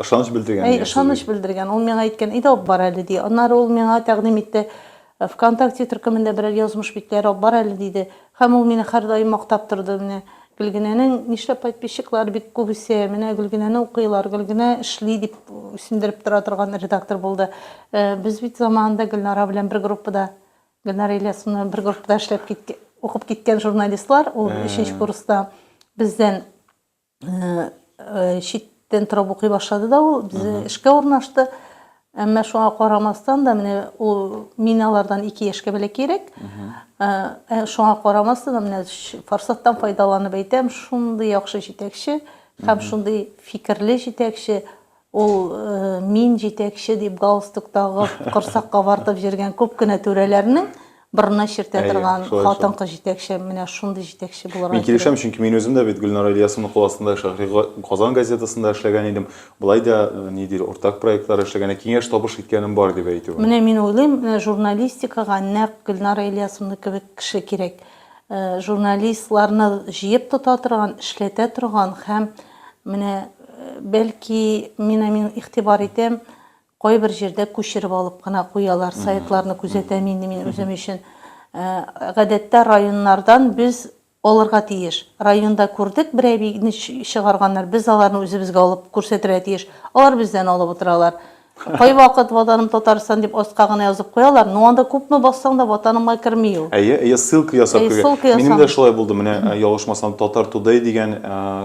Ышаныч белдергән. Әй, ышаныч белдергән. Ул миңа әйткән, әйдә алып бар әле, ди. Аннары ул миңа тәкъдим итте, ВКонтакте төркемендә берәр язмыш битләре алып бар әле, диде. Һәм ул мине һәрдаим мактап торды. Менә Гөлгенәнең нишләп подписчиклары бик күбесе, менә Гөлгенәне укыйлар, Гөлгенә эшли, дип үсендереп тора торган редактор булды. Без бит заманында Гөлнара белән бер группада, Гөлнара Ильясовна бер группада эшләп киткән, укып киткән журналистлар, ул өченче курста бездән читтән торып укый башлады да ул безнең эшкә урнашты әмма шуңа карамастан да менә ул мин алардан ике яшькә бәләкәйрәк ә, шуңа карамастан да менә форсаттан файдаланып әйтәм шундый яхшы җитәкче һәм шундый фикерле җитәкче Ул Мин җитәкче дип галстук тагып, корсак кабартып йөргән күп кенә түрәләрнең борынына чиртә торган хатын-кыз җитәкче, менә шундый җитәкче булырга кирәк. Мин килешәм, чөнки мин үзем дә бит Гөлнара Ильясовна кул астында Шәһри Казан газетасында эшләгән идем. Болай да, ни диләр, уртак проектлар эшләгән, ә киңәш-табыш иткәнем бар дип әйтү. Менә мин уйлыйм, менә журналистикага нәкъ Гөлнара Ильясовна кебек кеше кирәк. Журналистларны җыеп тота торган, эшләтә торган һәм Менә, бәлки, мин ә мин игътибар итәм, кайбер җирдә күчереп алып кына куялар, сайтларны күзәтәм инде мин үзем өчен. Гадәттә районнардан без алырга тиеш. Районда күрдек, бер әбине чыгарганнар, без аларны үзебезгә алып күрсәтергә тиеш. Алар бездән алып утыралар. Кайвакыт Ватаным Татарстан дип аска гына язып куялар, но анда күпме бассаң да Ватанымга керми ул. Әйе, әйе, ссылка ясап Әйе, кергә. ссылка ясам. Минем дә шулай булды, менә ялгышмасам Татар Тудэй дигән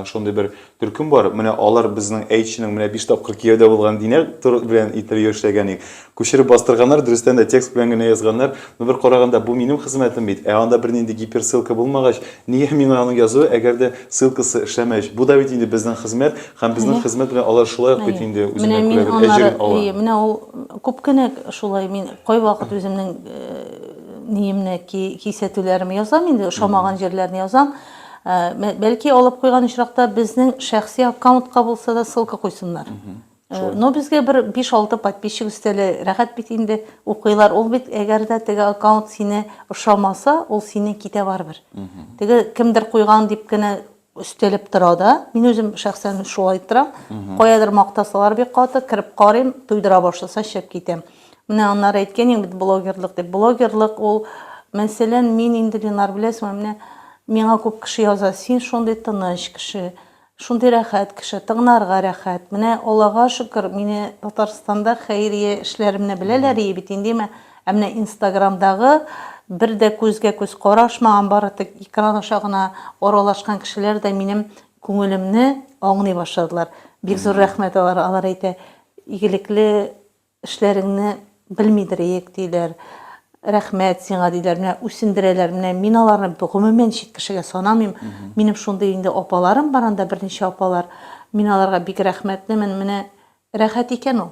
шундый бер төркем бар, менә алар безнең әйтченең менә биш тапкыр кияүдә булган Динә Тур белән интервью эшләгән идек. Күчереп бастырганнар, дөрестән дә текст белән генә язганнар, но бер караганда бу минем хезмәтем бит, ә анда бернинди гиперссылка булмагач, нигә миңа аның язуы, әгәр дә ссылкасы эшләмәгәч, бу да бит инде безнең хезмәт, Һәм безнең хезмәт белән алар шулай ук бит инде үзенә күрә бер әҗерен ала. Әйе, менә ул күп кенә шулай мин кайвакыт үземнең ниемне, кисәтүләремне язам инде, ошамаган җирләрне язам. Бәлки алып куйган очракта безнең шәхси аккаунтка булса да ссылка куйсыннар. Но безгә бер биш-алты подписчик өстәле рәхәт бит инде, укыйлар. Ул бит әгәр дә теге аккаунт сине ошамаса, ул синең китә барыбер. Теге кемдер куйган дип кенә Өстәлеп тора да. Мин үзем шәхсән шулай торам. Каядыр мактасалар бик каты, кереп карыйм, туйдыра башласа чыгып китәм. Менә аннары әйткән идең бит блогерлык дип. Блогерлык ул, мәсәлән, мин инде, Ленар, беләсеңме, менә миңа күп кеше яза, син шундый тыныч кеше, шундый рәхәт кеше, тыңнарга рәхәт. Менә Аллага шөкер, мине Татарстанда хәйрия эшләремне беләләр ие бит инде, Ә менә инстаграмдагы бер дә күзгә-күз карашмаган, бары тик экран аша гына аралашкан кешеләр дә минем күңелемне аңлый башладылар. Бик зур рәхмәт алар, алар әйтә, игелекле эшләреңне белмидер иек, диләр. Рәхмәт сиңа, диләр, менә үсендерәләр, менә мин аларны гомумән чит кешегә санамыйм, минем шундый инде апаларым бар анда, берничә апалар, мин аларга бик рәхмәтлемен, менә рәхәт икән ул.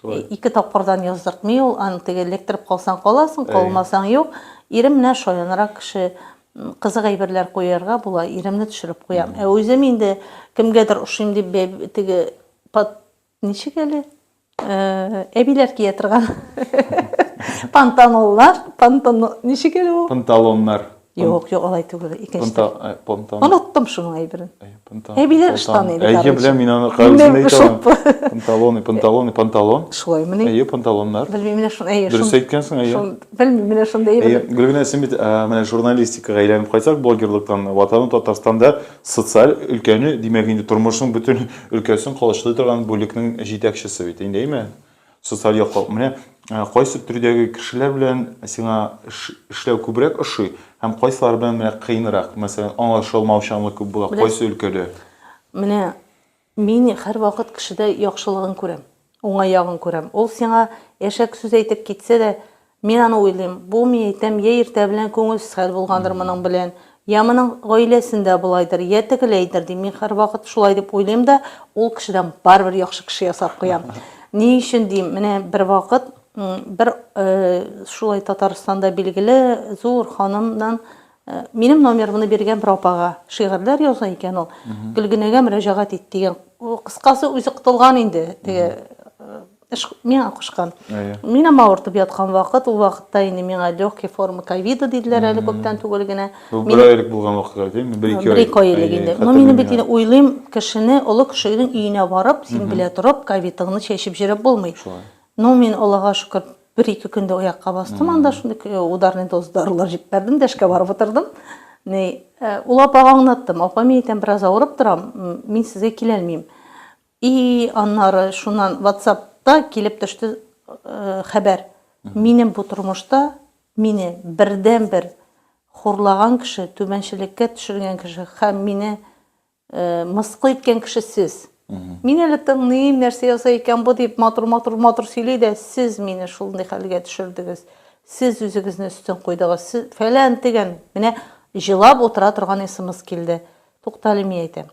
Шулай. Ике тапкырдан яздыртмый ул, аны теге электроп калсаң каласың, калмасаң юк. Ирем менә шаянрак кеше, кызык әйберләр куярга була, иремне төшереп куям. Ә үзем инде кемгәдер ошыйм дип теге под ничек әле? Э, әбиләр кия торган пантаноллар, пантон ничек әле ул? Панталоннар. Юк, юк, алай түгел, икенче. Пунта, э, понтан. Оныттым шуның әйберен. Э, понтан. Әбиләр ыштаны иде. Әйе, беләм, мин аны кавызында әйтәм. Панталоны, панталоны, панталон. Шулай мени? Әйе, панталоннар. Белмим, менә шуны әйе. Дөрес әйткәнсең, әйе. Белмим, менә шуны әйе. Әйе, Гөлгенә, син бит э, менә журналистикага әйләнеп кайтсак, блогерлыктан ватану Татарстанда социаль өлкәне, димәк, инде тормышның бөтен өлкәсен колачлый торган бүлекнең җитәкчесе бит, инде, әйме? Социаль яклау. Менә э, кайсы төрдәге кешеләр белән сиңа эшләү күбрәк ошый һәм кайсылар белән менә кыенрак, мәсәлән, аңлашылмаучанлык күп була, кайсы өлкәдә? Менә мин һәрвакыт кешедә яхшылыгын күрәм, уңай ягын күрәм. Ул сиңа әшәк сүз әйтеп китсә дә, Мин аны уйлыйм, бу, мин әйтәм, я иртә белән күңелсез хәл булгандыр моның белән, я моның гаиләсендә болайдыр, я тегеләйдер, дим. Мин һәрвакыт шулай дип уйлыйм да, ул кешедән барыбер яхшы кеше ясап куям. Ни өчен дим, менә бервакыт бер шулай Татарстанда билгеле зур ханымнан минем номерымны биргән бер апага, шигырьләр яза икән ул, Гөлгенәгә мөрәҗәгать ит, дигән. Кыскасы, үзе котылган инде, теге Эш миңа кушкан. Әйе. Минем авыртып яткан вакыт, ул вакытта инде миңа легкий форма ковида диделәр әле күптән түгел генә. Бу бер айлык булган вакыт әле, бер ике айлык. Бер ике айлык инде. Но минем бит инде уйлыйм, кешене, олы кешенең өенә барып, син белә торып, ковидыңны чәчеп җөреп булмый. Шулай. Но мин Аллага шөкер, бер ике көндә аякка бастым, анда шундый ударный доза дарулар җип бәрдем дә эшкә барып утырдым. Ни, ул апага аңлаттым, апа, мин әйтәм, бераз авырып торам, мин сезгә киләлмим. И аннары шуннан ватсапта килеп төште хәбәр, минем бу тормышта мине бердәнбер хурлаган кеше, түбәнчелеккә төшергән кеше һәм мине мыскыл иткән кеше сез. Мин әле тыңлыйм, нәрсә ясый икән бу дип, матур-матур-матур сөйли дә, сез мине шундый хәлгә төшердегез, сез үзегезне өстен куйдыгыз, сез фәлән-тегән, менә җылап утыра торган смс килде. Туктале, мин әйтәм.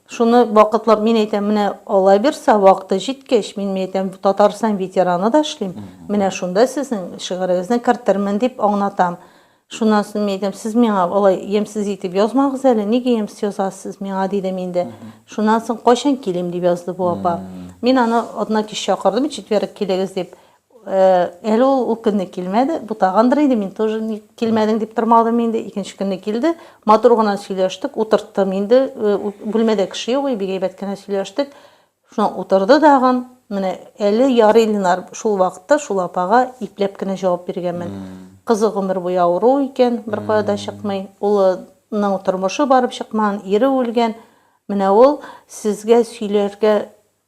Шуны вакытлап мин әйтәм, менә алай берса, вакыты җиткәч, мин мин әйтәм, Татарстан ветераны да эшлим, менә шунда сезнең шигырегезне кертермен дип аңлатам. Шуннан соң мин әйтәм, сез миңа алай ямьсез итеп язмагыз әле, нигә ямьсез язасыз сез миңа, дидем инде. Шуннан соң, кайчан килим, дип язды бу апа. Мин аны атна кич чакырдым, четверг килегез дип. Әле ул көнне килмәде, бутагандыр инде, мин тоже килмәдең дип тормадым инде. Икенче көнне килде, матур гына сөйләштек, утырттым инде. Бүлмәдә кеше юк, бик әйбәт кенә сөйләштек. Шуна утырды дагын. Менә әле ярый Ленар шул вакытта шул апага ипләп кенә җавап биргәнмен. Кызы гомер буе авыру икән, беркая да чыкмый. Улының тормышы барып чыкмаган, ире үлгән. Менә ул сезгә сөйләргә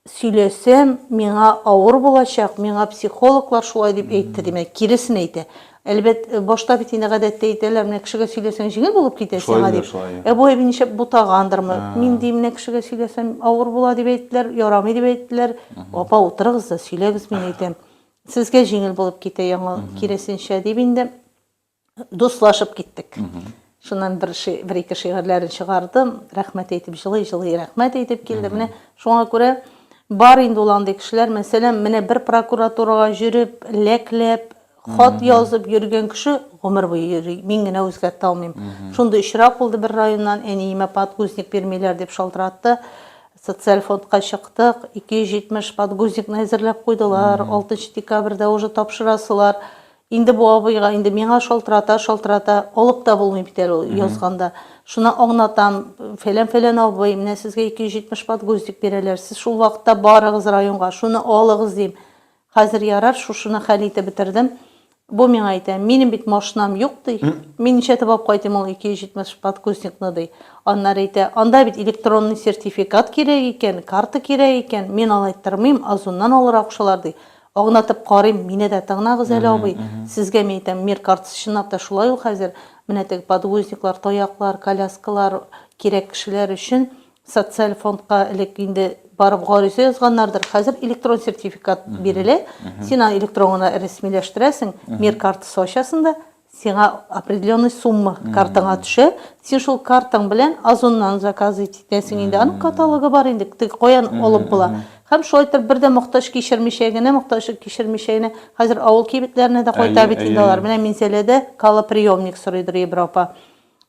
сөйләсәм, миңа авыр булачак, миңа психологлар шулай дип әйтте, димәк, киресен әйтә. Әлбәт, башта бит инде гадәттә әйтәләр, менә кешегә сөйләсәң җиңел булып китә Шулай сиңа, диләр, дип. шулай, Ә бу әби нишләп бутагандырмы? Мин, ди, менә кешегә сөйләсәм, авыр була дип әйттеләр, ярамый дип әйттеләр. Апа, утырыгыз да сөйләгез, мин әйтәм. Сезгә җиңел булып китә яңа, киресенчә, дип инде Дуслашып киттек. Шуннан бер ши, бер-ике шигырьләрен чыгардым, рәхмәт әйтеп, җылый-җылый рәхмәт әйтеп килде. Менә шуңа күрә бар инде ул андый кешеләр. Мәсәлән, менә бер прокуратурага җөреп, ләкләп, хат язып йөргән кеше гомер буе йөри, мин генә үзгәртә алмыйм. Шундый очрак булды, бер районнан әниемә подгузник бирмиләр дип шалтыратты. Социаль фондка чыктык, 270 подгузникны әзерләп куйдылар, 6 нчы декабрьдә уже тапшырасылар. Инде бу абыйга инде миңа шалтырата, шалтырата, алып та булмый бит әле ул язганда. Шуны аңнатам, фәлән-фәлән абый, менә сезгә 270 подгузник бирәләр, сез шул вакытта барыгыз районга, шуны алыгыз, дим. Хәзер ярар, шушыны хәл итеп бетердем. Бу миңа әйтә, минем бит машинам юк, ди. Мин ничәтеп алып кайтыйм ул 270 подгузникны, ди. Аннары әйтә, анда бит электронный сертификат кирәк икән, карта кирәк икән, мин алай тырмыйм, Озоннан алырга кушалар, ди. Агнатып карыйм, мине дә тыңнагыз әле, абый. Сезгә мин әйтәм, мир картасы чынлап та шулай ул хәзер. Менә теге подгузниклар, таяклар, коляскалар кирәк кешеләр өчен социаль фондка элек инде барып гариза язганнардыр. Хәзер электрон сертификат бирелә. Син аны электрон гына рәсмиләштерәсең, мир картасы ачасың да, Сиңа определенный сумма картаңа төшә, син шул картаң белән Озоннан заказ итәсең инде, аның каталогы бар инде, теге каян алып була. Һәм шулай итеп бер дә мохтаҗ кичермичә генә, мохтаҗ кичермичә генә, хәзер авыл кибетләренә дә кайта Әйе, бит инде әйе, алар. әйе. Менә Минзәләдә калоприемник сорыйдыр Ебрау апа.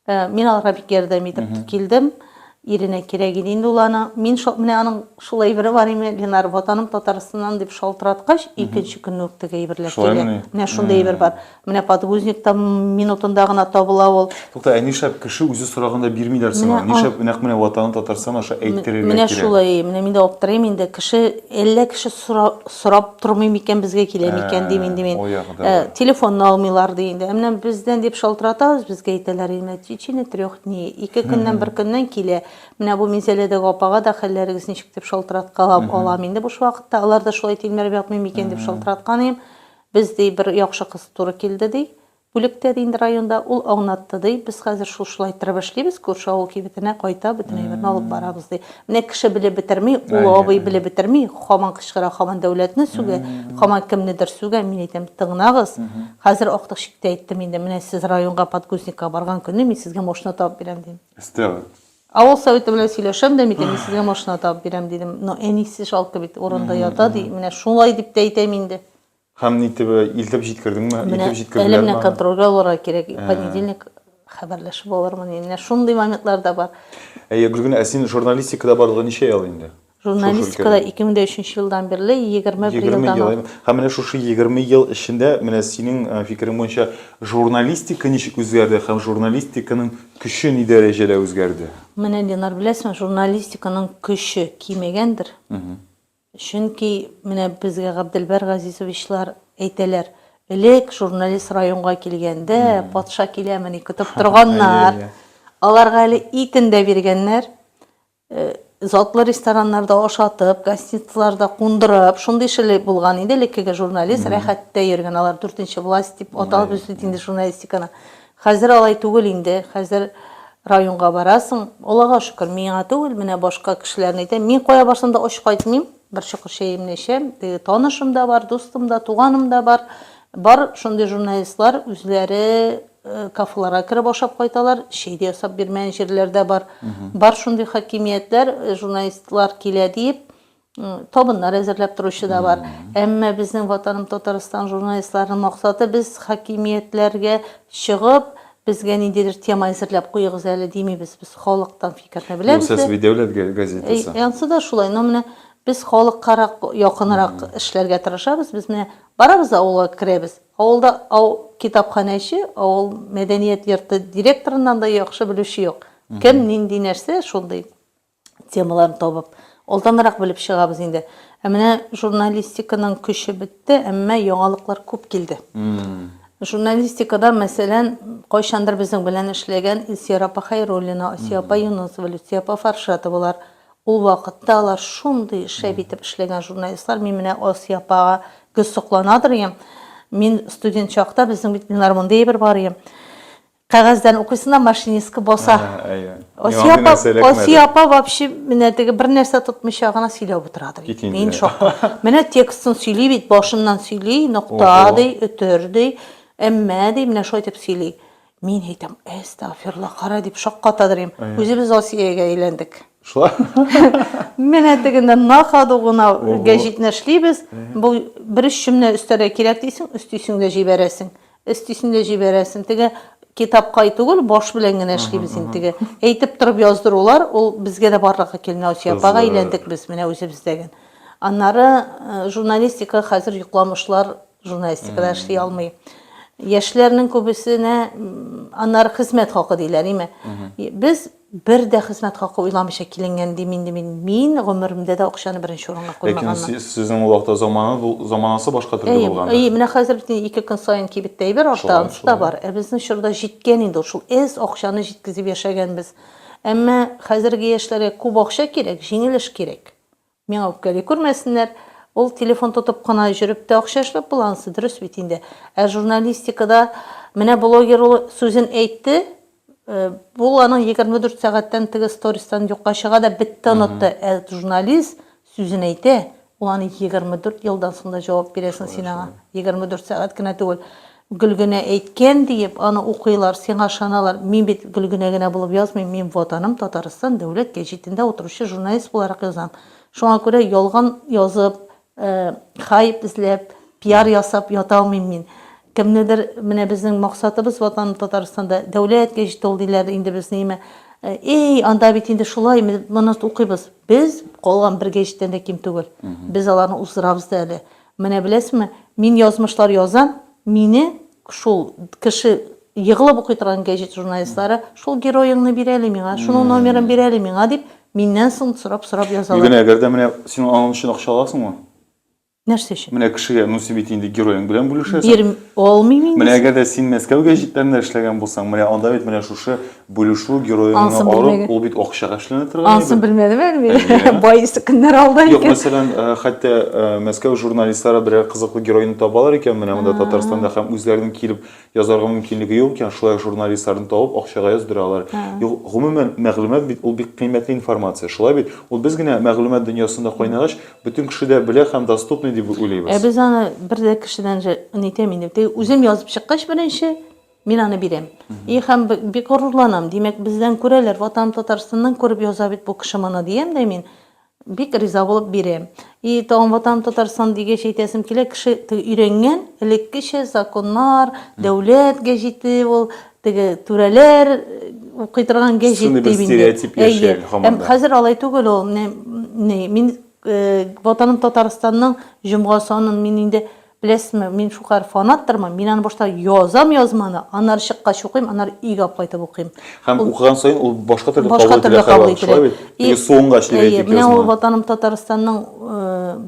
Э, мин аларга бик ярдәм итеп килдем. Иренә кирәк иде инде ул аны. Мин шул менә аның шул әйбере бар име, Ленар, ватаным Татарстаннан дип шалтыраткач, икенче көнне үк теге әйберләр килә. Менә шундый әйбер бар. Менә подгузникта минутында гына табыла ул. Тукта, ә нишләп кеше үзе сораганда бирмиләр соң? Нишләп нәкъ менә ватаным Татарстан аша әйттерергә кирәк? Менә шулай, менә мин дә аптырыйм инде. Кеше, әллә кеше сорап тормый микән, безгә килә микән, дим инде мин. Телефонны алмыйлар ди инде. Ә менә бездән дип шалтыратабыз, безгә әйтәләр инде, в течение трех дней, ике көннән, бер көннән килә. Менә бу Минзәләдәге апага да хәлләрегез ничек дип шалтыраткалап алам инде буш вакытта. Алар да шулай тилмереп ятмый микән дип шалтыраткан идем. Без, ди, бер яхшы кыз туры килде, ди. Бүлектә дә инде районда ул аңнатты, ди. Без хәзер шул шулай торып эшлибез, күрше авыл кибетенә кайта, бөтен әйберне алып барабыз, ди. Менә кеше белеп бетерми, олы абый белеп бетерми, хаман кычкыра, хаман дәүләтне сүгә, хаман кемнедер сүгә, мин әйтәм, тыңнагыз, хәзер актык чиктә әйттем инде, менә сез районга подгузникка барган көнне мин сезгә машина табып бирәм, дим. Эстәгы. Авыл советы белән сөйләшәм дә, микән, мин сезгә машина табып бирәм, дидем. Но әнисе жалко бит, урында ята, ди. Менә шулай дип тә әйтәм инде. Һәм нитеп, илтеп җиткердеңме? Менә әле менә контрольгә алырга кирәк. Понедельник хәбәрләшеп алырмын. Менә шундый моментлар да бар. Әйе, Гөлгенә, ә син журналистикада барлыгы ничә ел инде? Журналистикада 2003 елдан бирле 21 елдан ул. Һәм менә шушы 20 ел эчендә, менә синең фикерең буенча, журналистика ничек үзгәрде һәм журналистиканың көче ни дәрәҗәдә үзгәрде? Менә, Динар, беләсеңме, журналистиканың көче кимегәндер. Чөнки, менә безгә Габделбәр Газизовичлар әйтәләр, элек журналист районга килгәндә, патша киләмени көтеп торганнар. Аларга әле итен дә биргәннәр. Затлы рестораннарда ашатып, гостиницаларда кундырып, шундый шеле булган инде элеккеге журналист, рәхәттә йөргән. Алар дүртенче власть дип аталып үсте инде журналистиканы. Хәзер алай түгел инде, хәзер районга барасың, Аллага шөкер, миңа түгел, менә башка кешеләрне әйтәм, мин кая барсам да ач кайтмыйм, бер чокыр чәемне эчәм, теге танышым да бар, дустым да, туганым да бар, бар шундый журналистлар үзләре кафеларга кереп ашап кайталар, чәй дә ясап бирмәгән җирләр дә бар, бар шундый хакимиятләр, журналистлар килә диеп, Табыннар әзерләп торучы да бар. Әмма безнең Ватаным Татарстан журналистларының максаты без хакимиятләргә чыгып, безгә ниндидер тема әзерләп куегыз әле димибез. Без халыктан фикерне беләбез. Югыйсә сви дәүләт газетасы. Ансы да шулай. Но менә без халыккарак, якынрак эшләргә тырышабыз. Без менә барабыз да авылга керәбез. Авылда китапханәче, авыл мәдәният йорты директорыннан да яхшы белүче юк. Кем нинди нәрсә, шундый. темаларын табып, алданрак белеп чыгабыз инде. Ә менә журналистиканың көче бетте, әмма яңалыклар күп килде. Журналистикада, мәсәлән, кайчандыр безнең белән эшләгән Илсия апа Хәйруллина, Асия апа Юнысова, Люция апа Фаршатовалар, ул вакытта алар шундый шәп итеп эшләгән журналистлар. Мин менә Асия апага гел сокланадыр идем. Мин студент чакта безнең бит Ленар Мондеевер бар иде. Кәгазьдән укыйсына машинистка баса. Асия апа вообще менә теге бер нәрсә тотмыйча гына сөйләп утырадыр. Мин шок. Менә текстын сөйли бит, башыннан сөйли, нокта ди, өтер ди, әмма ди, менә шулай итеп сөйли. Мин әйтәм, әстәгъфирла, кара дип шаккатадыр идем. Үзебез Асиягә әйләндек. Шулай. Менә тегендә накаду гына гәҗитне эшлибез. Бу бер өч чүмне өстәргә кирәк дисең, өстисең дә җибәрәсең. Өстисен дә җибәрәсен. Теге китапкай түгел, баш белән генә эшлибез инде теге. Әйтеп торып яздырулар, ул безгә дә барлыкка килми, Асия апага әйләндек без менә үзебез дәген. Аннары журналистика хәзер йокламышлар журналистикада эшли алмый. Яшьләрнең күбесенә аннары хезмәт хакы диләр, име. Без Бер дә хезмәт хакы уйламыйча киленгән, дим инде мин. Мин гомеремдә дә акчаны беренче урынга куймаганмын. Ләкин сез, сезнең ул вакытта замананы, заманасы башка төрле Әйе, булгандыр. әйе, менә хәзер бит инде ике көн саен кибеттә әйбер арта, Шулай, анысы да шулай. бар. Ә безнең чорда җиткән инде ул, шул әз акчаны җиткезеп яшәгәнбез. Әмма хәзерге яшьләргә күп акча кирәк, җиңел эш кирәк. Миңа үпкәли күрмәсеннәр, ул телефон тотып кына җөреп тә акча эшләп була ансы, дөрес бит инде. Ә журналистикада менә блогер ул сүзен әйтте, ул аның 24 сәгатьтән теге стористан юкка чыга да бетте онытты, ә журналист сүзен әйтә, ул аны 24 елдан соң да җавап бирәсең син аңа, 24 сәгать кенә түгел. Гөлгенә әйткән диеп аны укыйлар, сиңа ышаналар. Мин бит Гөлгенә генә булып язмыйм, мин Ватаным Татарстан дәүләт гәҗитендә утыручы журналист буларак язам. Шуңа күрә ялган язып, хайп эзләп, пиар ясап ята алмыйм мин. Кемнедер, менә безнең максатыбыз Ватаным Татарстанда дәүләт гәҗите ул диләр, инде без ниме, эй, анда бит инде шулай, без моны укыйбыз. Без калган бер гәҗиттән дә ким түгел. Без аларны уздырабыз да әле. Менә беләсеңме, мин язмышлар язам, мине шул кеше егылып укый торган гәҗит журналистлары, шул героеңны бир әле миңа, шуның номерын бир әле миңа, дип, миннән соң сорап-сорап язалар. Гөләнә, әгәр дә менә син аның өчен акча аласыңмы? Нәрсә өчен? Менә кешегә, ну син бит инде героең белән бүлешәсең. Бирм, алмыйм инде. Менә әгәр дә син Мәскәү гәҗитләрендә эшләгән булсаң, менә анда бит менә шушы Бүлешү героеңны алып, ул бит акчага эшләнә торган иде. Ансын белмәдем әле мин. Бай көннәр алда икән. Юк, мәсәлән, э, хәтта э, Мәскәү журналистлары берәр кызыклы героины табалар икән, менә монда Татарстанда һәм үзләренең килеп язарга мөмкинлеге юк икән, шулай журналистларны табып акчага яздыралар. Юк, гомумән мәгълүмат бит ул бик кыйммәтле информация, шулай бит? Ул без генә мәгълүмат дөньясында кайнагач, бөтен кеше дә белә һәм доступный дип уйлыйбыз. Ә без аны бер дә кешедән нитәм инде. Үзем язып чыккач беренче, Мин аны бирәм. И һәм бик горурланам, димәк, бездән күрәләр, Ватаным Татарстаннан күреп яза бит бу кеше моны, диям дә мин, бик риза булып бирәм. И тагын Ватаным Татарстан дигәч әйтәсем килә, кеше теге өйрәнгән, элеккечә законнар, дәүләт гәҗите ул, теге түрәләр укый торган гәҗит дип инде. Әйе. Һәм хәзер алай түгел ул. Менә мин Ватаным Татарстанның җомга санын мин инде Беләсезме, мин шулкадәр фанаттырмын, мин аны башта язам язманы, аннары чыккач укыйм, аннары өйгә алып кайтып укыйм. Һәм укыган саен ул башка төрле кабул ителә һәрвакыт, шулай бит? Башка төрле кабул ителә. Теге суынгач дип әйтик язманы. Әйе, менә ул Ватаным Татарстанның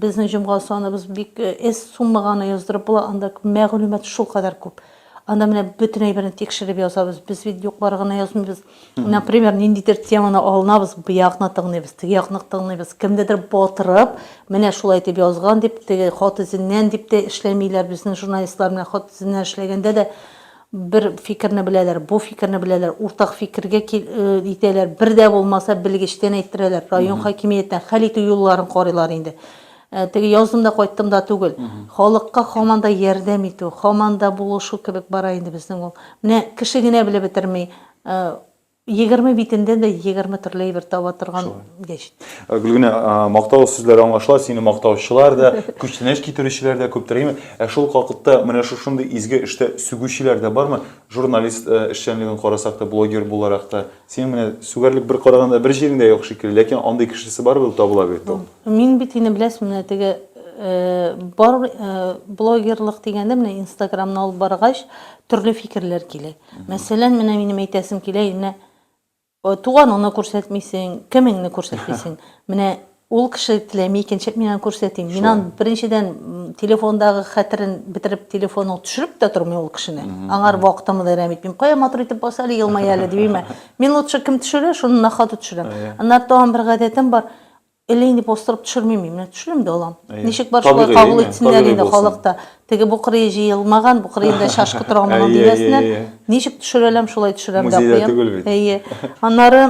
безнең җомга саныбыз бик эз суммага аны яздырып була, анда мәгълүмат шулкадәр күп. Анда менә бөтен әйберне тикшереп язабыз, без бит юклар гына язмыйбыз. Например, ниндидер теманы алынабыз, бу якны тыңлыйбыз, теге якны тыңлыйбыз. Кемдедер батырып, менә шулай итеп язган дип, теге хат эзеннән дип тә эшләмиләр. Безнең журналистлар менә хат эзеннән эшләгәндә дә бер фикерне беләләр, бу фикерне беләләр, уртак фикергә итәләр. Бер дә булмаса, белгечтән әйттерәләр, район хакимияттән хәл итү юлларын карыйлар инде. Теге яздым да кайттым да түгел. Халыкка хаман да ярдәм итү, хаман да булышу кебек бара инде безнең ул. Менә кеше генә белеп бетерми. Егерме битендә дә егерме төрле әйбер таба торган гәч. Гөлгенә, мактау сүзләре аңлашыла, сине мактаучылар да, күчтәнәч китерүчеләр дә күптер, әйеме? Ә шул ук вакытта менә шушындый изге эштә сүгүчеләр дә бармы? Журналист эшчәнлеген карасак та, блогер буларак та. Синең менә сүгәрлек бер караганда бер җирең дә юк шикелле, ләкин андый кешесе барыбер ул табыла бит ул. Мин бит инде беләсең менә теге бар блогерлык дигәндә менә инстаграмны алып баргач төрле фикерләр килә. Мәсәлән, менә минем әйтәсем килә, менә туганыңны күрсәтмисең, кемеңне күрсәтмисең. Менә Ул кеше теләми икән, чеп мин аны күрсәтим. Мин аны беренчедән телефондагы хәтерен бетереп, телефонын төшереп тә тормыйм ул кешене. Аңар вакытымны да әрәм итмим. Кая матур итеп бас әле, елмай әле, димим ә. Мин лучше кем төшерә, шуны на ходу төшерәм. Аннары тагын бер гадәтем бар, әллә инде бастырып төшермим мин, менә төшерәм дә алам. Ничек бар шулай кабул итсеннәр инде халык та. Теге бу кырые җыелмаган, бу кырыенда чашкы тора алмаган дигәсенә. Ничек төшерәләм, шулай төшерәм дә куям. Музейда түгел бит. Әйе. Аннары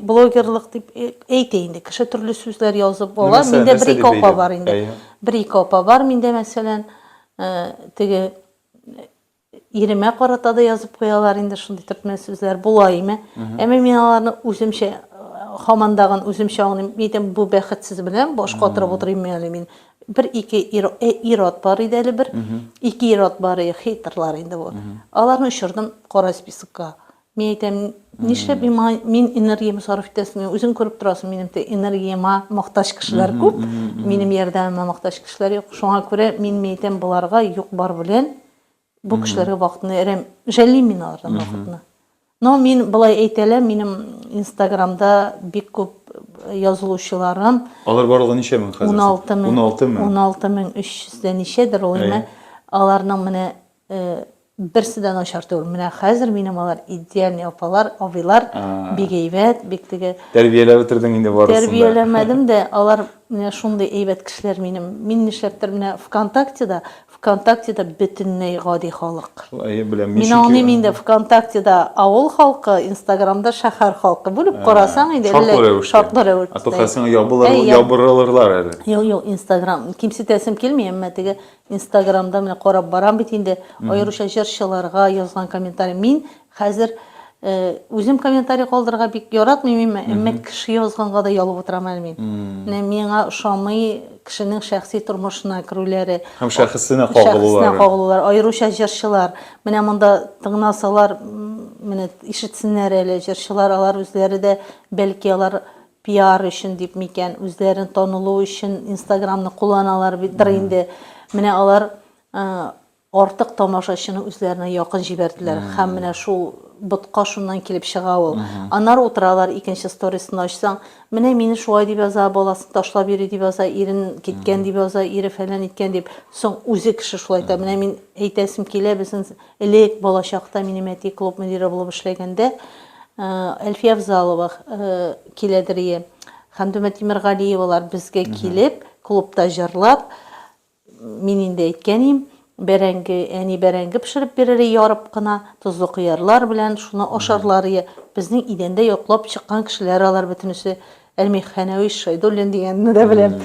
блогерлык дип әйтә инде. Кеше төрле сүзләр язып ала. Миндә бер ике апа бар инде. Бер ике апа бар миндә мәсәлән, теге Иремә карата да язып куялар инде шундый төркмән сүзләр була име. Әмма мин аларны үземчә хамандагын үземчә аңлыйм. Әйтәм, бу бәхетсез белән баш катырып утырыйм әле мин. Бер ике ир, э, ират бар иде әле бер. Ике ират бар иде, хейтерлар инде бу. Аларны очырдым кара списокка. Мин әйтәм, нишләп мин моңа, мин энергиямне сарыф итәсемени, үзең күреп торасың, минем тә энергияма мохтаҗ кешеләр күп, минем ярдәмемә мохтаҗ кешеләр юк, шуңа күрә мин, мин әйтәм, боларга юк-бар белән бу кешеләргә вакытны әрәм, жәллим мин алардан вакытны. Но мин болай әйтәләм, минем инстаграмда бик күп язылучыларым. Алар барлыгы ничә мең хәзер? Уналты мең. Уналты мең. Уналты мең өч йөз дә ничәдер ул, әйе. Аларның менә Берсе дә начар түгел. Менә хәзер минем алар идеальный апалар, абыйлар, бик әйбәт, бик теге. Тәрбияләп бетердең инде барысын да. Тәрбияләмәдем дә, алар менә шундый әйбәт кешеләр минем. Мин нишләптер менә ВКонтактеда, ВКонтактеда бөтенләй гади халык. Әйе, беләм. Мин аңлыйм инде, ВКонтактеда авыл халкы, Инстаграмда шәһәр халкы. Бүлеп карасаң инде әллә шартлы рәвештә. Шартлы рәвештә. Ә то хәзер сиңа ябырылырлар әле. Юк, юк, Инстаграм. Кимсетәсем килми, әмма теге Инстаграмда менә карап барам бит инде, аеруча җырчыларга язган комментарий. Мин хәзер үзем комментарий калдырырга бик яратмыйм, әмма кеше язганга да ялып утырам әле мин. Менә миңа ошамый кешенең шәхси тормышына керүләре. Һәм шәхесенә кагылулары. Шәхесенә кагылулар, аеруча җырчылар. Менә монда тыңласалар, менә ишетсеннәр әле, җырчылар алар үзләре дә, бәлки алар Пиар өчен дип микән, үзләрен танылу өчен инстаграмны кулланалар бит дыр инде. Менә алар артык тамашачыны үзләренә якын җибәрделәр. Һәм менә шул ботка шуннан килеп чыга ул. Аннары утыралар, икенче сторисны ачсаң, менә мине шулай дип яза, баласын ташлап йөри дип яза, ирен киткән дип яза, ире фәлән иткән дип. Соң үзе кеше шулай әйтә, менә мин әйтәсем килә, безнең Элек, балачакта, минем әти клуб мөдире булып эшләгәндә, Әлфия Авзалова, киләдерие, Хәмдүмә Тимергалиевалар безгә килеп, клубта җырлап, мин инде әйткән идем, бәрәңге, әни бәрәңге пешереп бирерие ярып кына, тозлы кыярлар белән, шуны ашарларые. Безнең идәндә йоклап чыккан кешеләр алар бөтенесе. Әлмих Хәнәвич Шәйдуллин дигәнне дә беләм.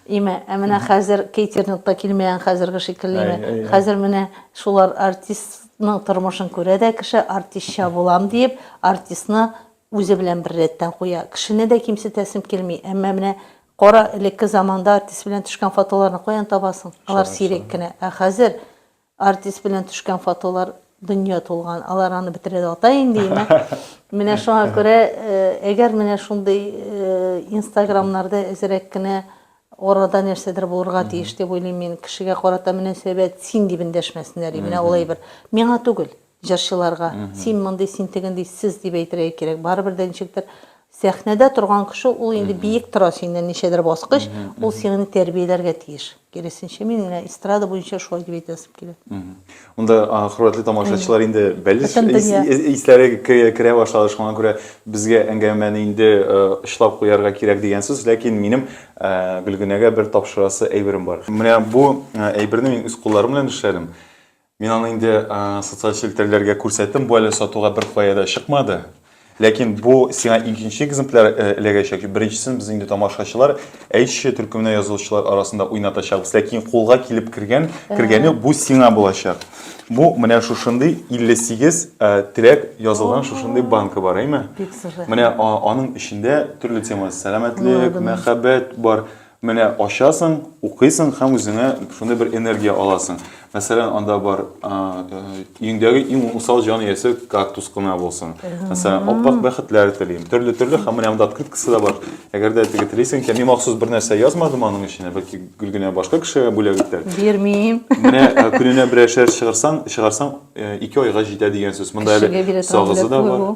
Имә, ә менә хәзер кейтерингта килмәгән хәзерге шикелле име? Хәзер менә шулар артистның тормышын күрә дә кеше, артистча булам диеп, артистны үзе белән бер рәттән куя. Кешене дә кимсетәсем килми, әмма менә кара, элекке заманда артист белән төшкән фотоларны каян табасың? Алар сирәк кенә. Ә хәзер Артист белән төшкән фотолар дөнья тулган. Алар аны бетерә дә ата инде имә. Менә шуңа күрә, э, әгәр менә шундый э, инстаграмнарда әзерәк кенә арада нәрсәдер булырга тиеш дип уйлыйм мин. Кешегә карата мөнәсәбәт син дип эндәшмәсеннәр, и, менә алай бер. Миңа түгел. Җырчыларга, син мондый, син тегендый, сез дип әйтергә кирәк. Барыбер дә ничектер сәхнәдә торган кеше ул инде биек тора синнән ничәдер баскыч, ул сиңне тәрбияләргә тиеш. Киресенчә, мин менә эстрада буенча шулай дип әйтәсем килә. Монда хөрмәтле тамашачылар инде бәлеш исләре керә башлады, шуңа күрә безгә әңгәмәне инде очлап куярга кирәк дигән сүз, ләкин минем Гөлгенәгә бер тапшырасы әйберем бар. Менә бу әйберне мин үз кулларым белән эшләдем. Мин аны инде социаль челтәрләргә күрсәттем, бу әле сатуга бер кая да чыкмады. Ләкин бу сиңа икенче экземпляр э, эләгәчәк. Беренчесен без инде тамашачылар, әйтче төркеменә язылучылар арасында уйнатачакбыз. Ләкин кулга килеп кергән, кергәне бу сиңа булачак. Бу менә шушындый 58 э, теләк язылган шушындый банка бар, әйме? Менә аның эчендә төрле тема, сәламәтлек, мәхәббәт бар. Менә ачасың, укыйсың һәм үзеңә шундый бер энергия аласың. Мәсәлән, анда бар өеңдәге иң усал җан иясе кактус кына булсын. Мәсәлән, аппак бәхетләр телим. Төрле-төрле һәм менә монда открыткасы да бар. Әгәр дә теге телисең икән, мин махсус бер нәрсә язмадым аның эченә, бәлки гел генә башка кешегә бүләк итәр. Бирмим. Менә көненә берәр шәр чыгарсаң, чыгарсаң, ике айга җитә дигән сүз. Монда әле сагызы да бар.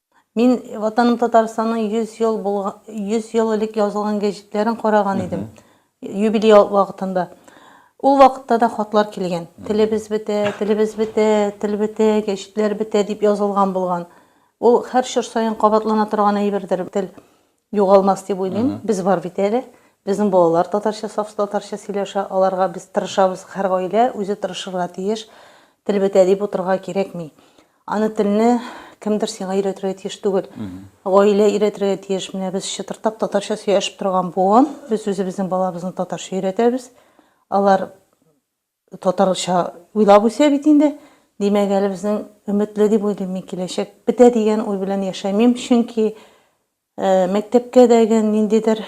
Мин Ватаным Татарстанның 100 ел булган 100 ел элек язылган гәҗитләрен караган идем. Юбилей вакытында. Ул вакытта да хатлар килгән. Телебез бетә, телебез бетә, тел бетә, гәҗитләр бетә дип язылган булган. Ул һәр чор саен кабатлана торган әйбердер тел. Югалмас дип уйлыйм. Без бар бит әле. Безнең балалар татарча, саф татарча сөйләшә. Аларга без тырышабыз. Һәр гаилә үзе тырышырга тиеш. Тел бетә дип утырырга кирәкми. Аны телне кемдер сиңа өйрәтергә тиеш түгел. Гаилә өйрәтергә тиеш. Менә без чытырдап татарча сөйләшеп торган буын. Без үзебезнең балабызны татарча өйрәтәбез. Алар Татарча уйлап үсә бит инде. Димәк, әле безнең өметле дип уйлыйм мин. Киләчәк бетә дигән уй белән яшәмим, чөнки мәктәпкә дә, гән ниндидер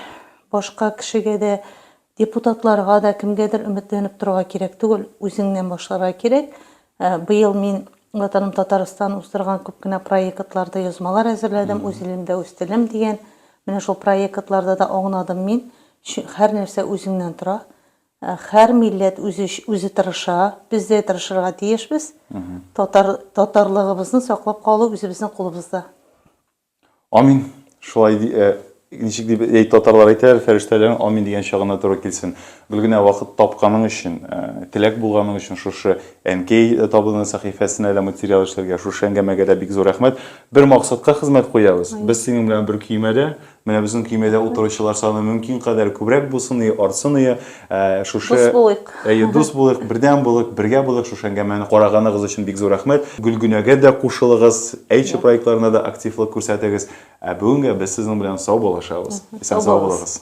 башка кешегә дә, депутатларга да, кемгәдер өметләнеп торырга кирәк түгел, үзеңнән башларга кирәк. Быел мин Ватаным Татарстан уздырган күп кенә проектларда язмалар әзерләдем, Үз илемдә үз телем дигән. Менә шул проектларда да аунадым мин. Һәрнәрсә үзеңнән тора. Хәр милләт үзе үзе тырыша, без дә тырышырга тиешбез. Татар татарлыгыбызны саклап калу үзебезнең кулыбызда. Амин. Шулай ди, э, ничек дип әй татарлар әйтәләр, фәрештәләрнең амин дигән чагына туры килсен. Гөлгенә, вакыт тапканың өчен, э, теләк булганың өчен шушы Әнкәй табыны сәхифәсенә дә материал эшләргә, шушы әңгәмәгә дә бик зур рәхмәт. Бер максатка хезмәт куябыз. Без синең белән бер көймәдә, Менә безнең көймәдә утыручылар саны мөмкин кадәр күбрәк булсын ие, артсын ие. Ә, Шушы Дус булыйк. Әйе, дус булыйк, бердәм булыйк, бергә булыйк. Шушы әңгәмәне караганыгыз өчен бик зур рәхмәт. Гөлгенәгә дә кушылыгыз, Әйтче проектларына да активлык күрсәтегез. Ә бүгенгә без сезнең белән саубуллашабыз. Исән-сау булыгыз.